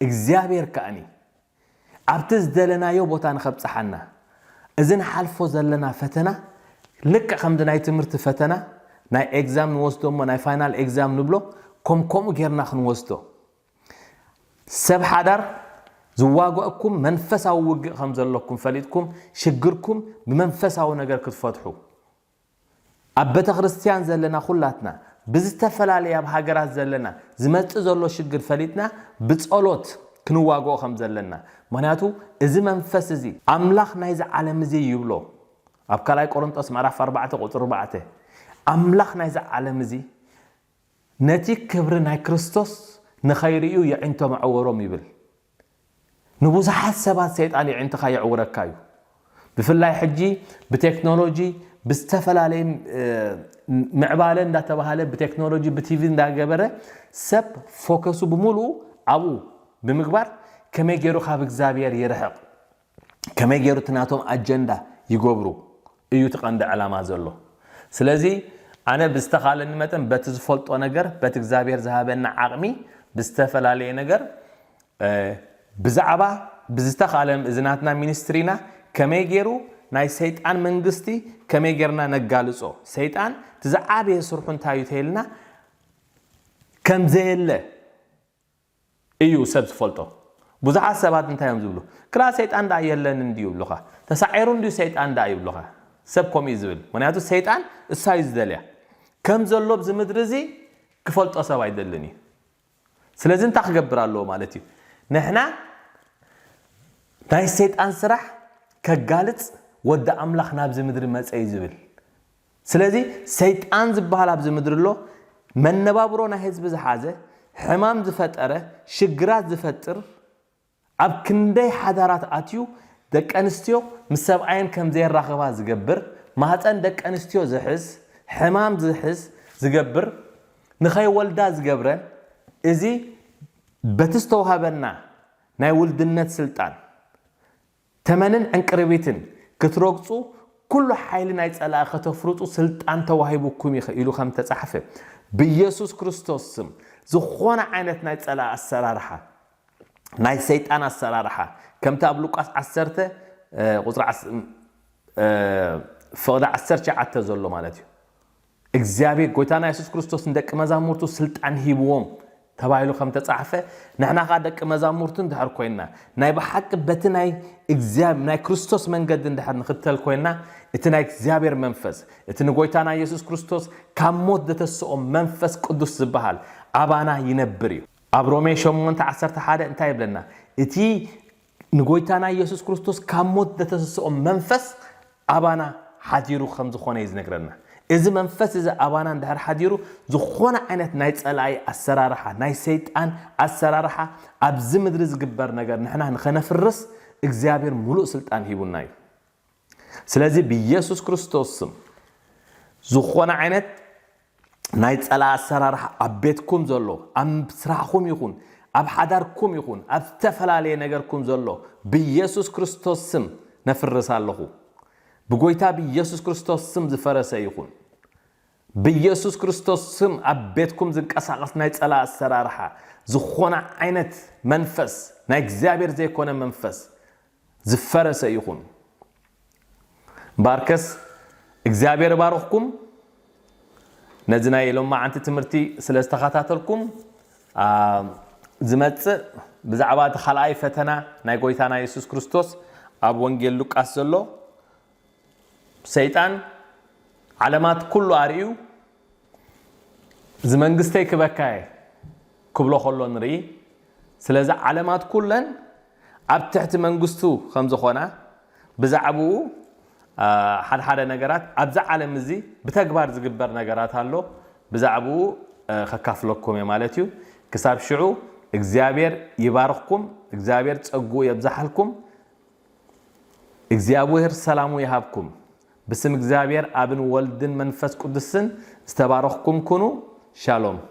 እግዚኣብሔር ከኣኒ ኣብቲ ዝደለናዮ ቦታ ንከብጽሓና እዚ ንሓልፎ ዘለና ፈተና ልክዕ ከምዚ ናይ ትምህርቲ ፈተና ናይ ኤግዛም ንወስዶ እሞ ናይ ፋይናል ኤግዛም ንብሎ ኮም ከምኡ ጌርና ክንወስዶ ሰብ ሓዳር ዝዋገእኩም መንፈሳዊ ውግእ ከም ዘለኩም ፈሊጥኩም ሽግርኩም ብመንፈሳዊ ነገር ክትፈትሑ ኣብ በተክርስትያን ዘለና ኩላትና ብዝተፈላለየ ኣብ ሃገራት ዘለና ዝመጽእ ዘሎ ሽግር ፈሊጥና ብጸሎት ክንዋግኦ ከም ዘለና ምክንያቱ እዚ መንፈስ እዚ ኣምላኽ ናይዚ ዓለም እዚ ይብሎ ኣብ ካልኣይ ቆሮንጦስ ምዕራፍ ኣርባዕተ ቁጽሪ ኣርባዕተ ኣምላኽ ናይዚ ዓለም እዚ ነቲ ክብሪ ናይ ክርስቶስ ንኸይርእዩ የዒንቶም ኣዐወሮም ይብል። ንብዙሓት ሰባት ሰይጣን የዒንትኻ የዕውረካ እዩ። ብፍላይ ሕጂ ብቴክኖሎጂ ብዝተፈላለየ ምዕባለ እንዳተባሃለ ብቴክኖሎጂ ብቲቪ እንዳገበረ ሰብ ፎከሱ ብምሉኡ ኣብኡ ብምግባር ከመይ ገይሩ ካብ እግዚኣብሔር ይርሕቕ ከመይ ጌሩ እቲ ናቶም ኣጀንዳ ይገብሩ እዩ እቲ ቀንዲ ዕላማ ዘሎ ስለዚ ኣነ ብዝተኻለኒ መጠን በቲ ዝፈልጦ ነገር በቲ እግዚኣብሔር ዝሃበኒ ዓቕሚ ብዝተፈላለየ ነገር ብዛዕባ ብዝተኻለ እዚ ናትና ሚኒስትሪና ከመይ ጌሩ ናይ ሰይጣን መንግስቲ ከመይ ጌርና ነጋልጾ ሰይጣን እቲ ዝዓበየ ስርሑ እንታይ እዩ ተይልና ከምዘየለ እዩ ሰብ ዝፈልጦ ቡዙሓት ሰባት እንታይ እዮም ዝብሉ ክላእ ሰይጣን ድኣ የለን እንድዩ ይብሉኻ ተሳዒሩ እንድዩ ሰይጣን ድኣ ይብሉኻ ሰብ ከምኡ እዩ ዝብል ምክንያቱ ሰይጣን እሳ እዩ ዝደልያ ከም ዘሎ ኣብዚ ምድሪ እዚ ክፈልጦ ሰብ ኣይደልን እዩ ስለዚ እንታይ ክገብር ኣለዎ ማለት እዩ ንሕና ናይ ሰይጣን ስራሕ ከጋልጽ ወዲ ኣምላኽ ናብዚ ምድሪ መጸ እዩ ዝብል ስለዚ ሰይጣን ዝብሃል ኣብዚ ምድሪ ኣሎ፣ መነባብሮ ናይ ህዝቢ ዝሓዘ፣ ሕማም ዝፈጠረ፣ ሽግራት ዝፈጥር፣ ኣብ ክንደይ ሓዳራት ኣትዩ ደቂ ኣንስትዮ ምስ ሰብኣየን ከም ዘየራኽባ ዝገብር፣ ማህጸን ደቂ ኣንስትዮ ዝሕዝ፣ ሕማም ዝሕዝ ዝገብር፣ ንኸይወልዳ ዝገብረን፣ እዚ በቲ ዝተዋህበና ናይ ውልድነት ስልጣን፣ ተመንን ዕንቅርቢትን ክትረግጹ ኩሉ ሓይሊ ናይ ጸላኢ ከተፍርጡ ስልጣን ተዋሂቡኩም እዩ ኢሉ ከም እተጻሕፈ ብየሱስ ክርስቶስ ስም ዝኾነ ዓይነት ናይ ጸላኢ ኣሰራርሓ ናይ ሰይጣን ኣሰራርሓ ከምቲ ኣብ ሉቃስ ዓሰርተ ቁጽሪ ፍቕዲ ዓሰርተ ሸውዓተ ዘሎ ማለት እዩ እግዚኣብሔር ጎይታና የሱስ ክርስቶስ ንደቂ መዛሙርቱ ስልጣን ሂብዎም ተባሂሉ ከም ተጻሕፈ ንሕና ከኣ ደቂ መዛሙርቱ እንድሕር ኮይንና ናይ ብሓቂ በቲ ናይ እግዚኣብ ናይ ክርስቶስ መንገዲ እንድሕር ንኽተል ኮይንና እቲ ናይ እግዚኣብሔር መንፈስ እቲ ንጎይታና የሱስ ክርስቶስ ካብ ሞት ዘተስኦ መንፈስ ቅዱስ ዝበሃል ኣባና ይነብር እዩ ኣብ ሮሜ ሸሞንተ ዓሰርተ ሓደ እንታይ ይብለና እቲ ንጎይታና ኢየሱስ ክርስቶስ ካብ ሞት ዘተሰሰኦ መንፈስ ኣባና ሓዲሩ ከም ዝኾነ እዩ ዝነግረና። እዚ መንፈስ እዚ ኣባና እንድሕር ሓዲሩ ዝኾነ ዓይነት ናይ ጸላኢ ኣሰራርሓ ናይ ሰይጣን ኣሰራርሓ ኣብዚ ምድሪ ዝግበር ነገር ንሕና ንኸነፍርስ እግዚኣብሔር ምሉእ ስልጣን ሂቡና እዩ። ስለዚ ብየሱስ ክርስቶስ ስም ዝኾነ ዓይነት ናይ ጸላ ኣሰራርሓ ኣብ ቤትኩም ዘሎ ኣብ ስራሕኩም ይኹን ኣብ ሓዳርኩም ይኹን ኣብ ዝተፈላለየ ነገርኩም ዘሎ ብየሱስ ክርስቶስ ስም ነፍርስ ኣለኹ ብጎይታ ብየሱስ ክርስቶስ ስም ዝፈረሰ ይኹን ብየሱስ ክርስቶስ ስም ኣብ ቤትኩም ዝንቀሳቐስ ናይ ጸላ ኣሰራርሓ ዝኾነ ዓይነት መንፈስ ናይ እግዚኣብሔር ዘይኮነ መንፈስ ዝፈረሰ ይኹን እምበኣርከስ እግዚኣብሔር ይባርኽኩም ነዚ ናይ ሎማዓንቲ ትምህርቲ ስለ ዝተኸታተልኩም ዝመጽእ ብዛዕባ እቲ ካልኣይ ፈተና ናይ ጎይታና የሱስ ክርስቶስ ኣብ ወንጌል ሉቃስ ዘሎ ሰይጣን ዓለማት ኩሉ ኣርእዩ እዚ መንግስተይ ክበካ እየ ክብሎ ከሎ ንርኢ። ስለዚ ዓለማት ኩለን ኣብ ትሕቲ መንግስቱ ከም ዝኾና ብዛዕብኡ ሓድሓደ ነገራት ኣብዚ ዓለም እዚ ብተግባር ዝግበር ነገራት ኣሎ ብዛዕብኡ ከካፍለኩም እየ ማለት እዩ። ክሳብ ሽዑ እግዚኣብሔር ይባርኽኩም እግዚኣብሔር ጸግኡ የብዛሓልኩም። እግዚኣብሔር ሰላሙ ይሃብኩም ብስም እግዚኣብሔር ኣብን ወልድን መንፈስ ቅዱስን ዝተባረኽኩም ኩኑ ሻሎም።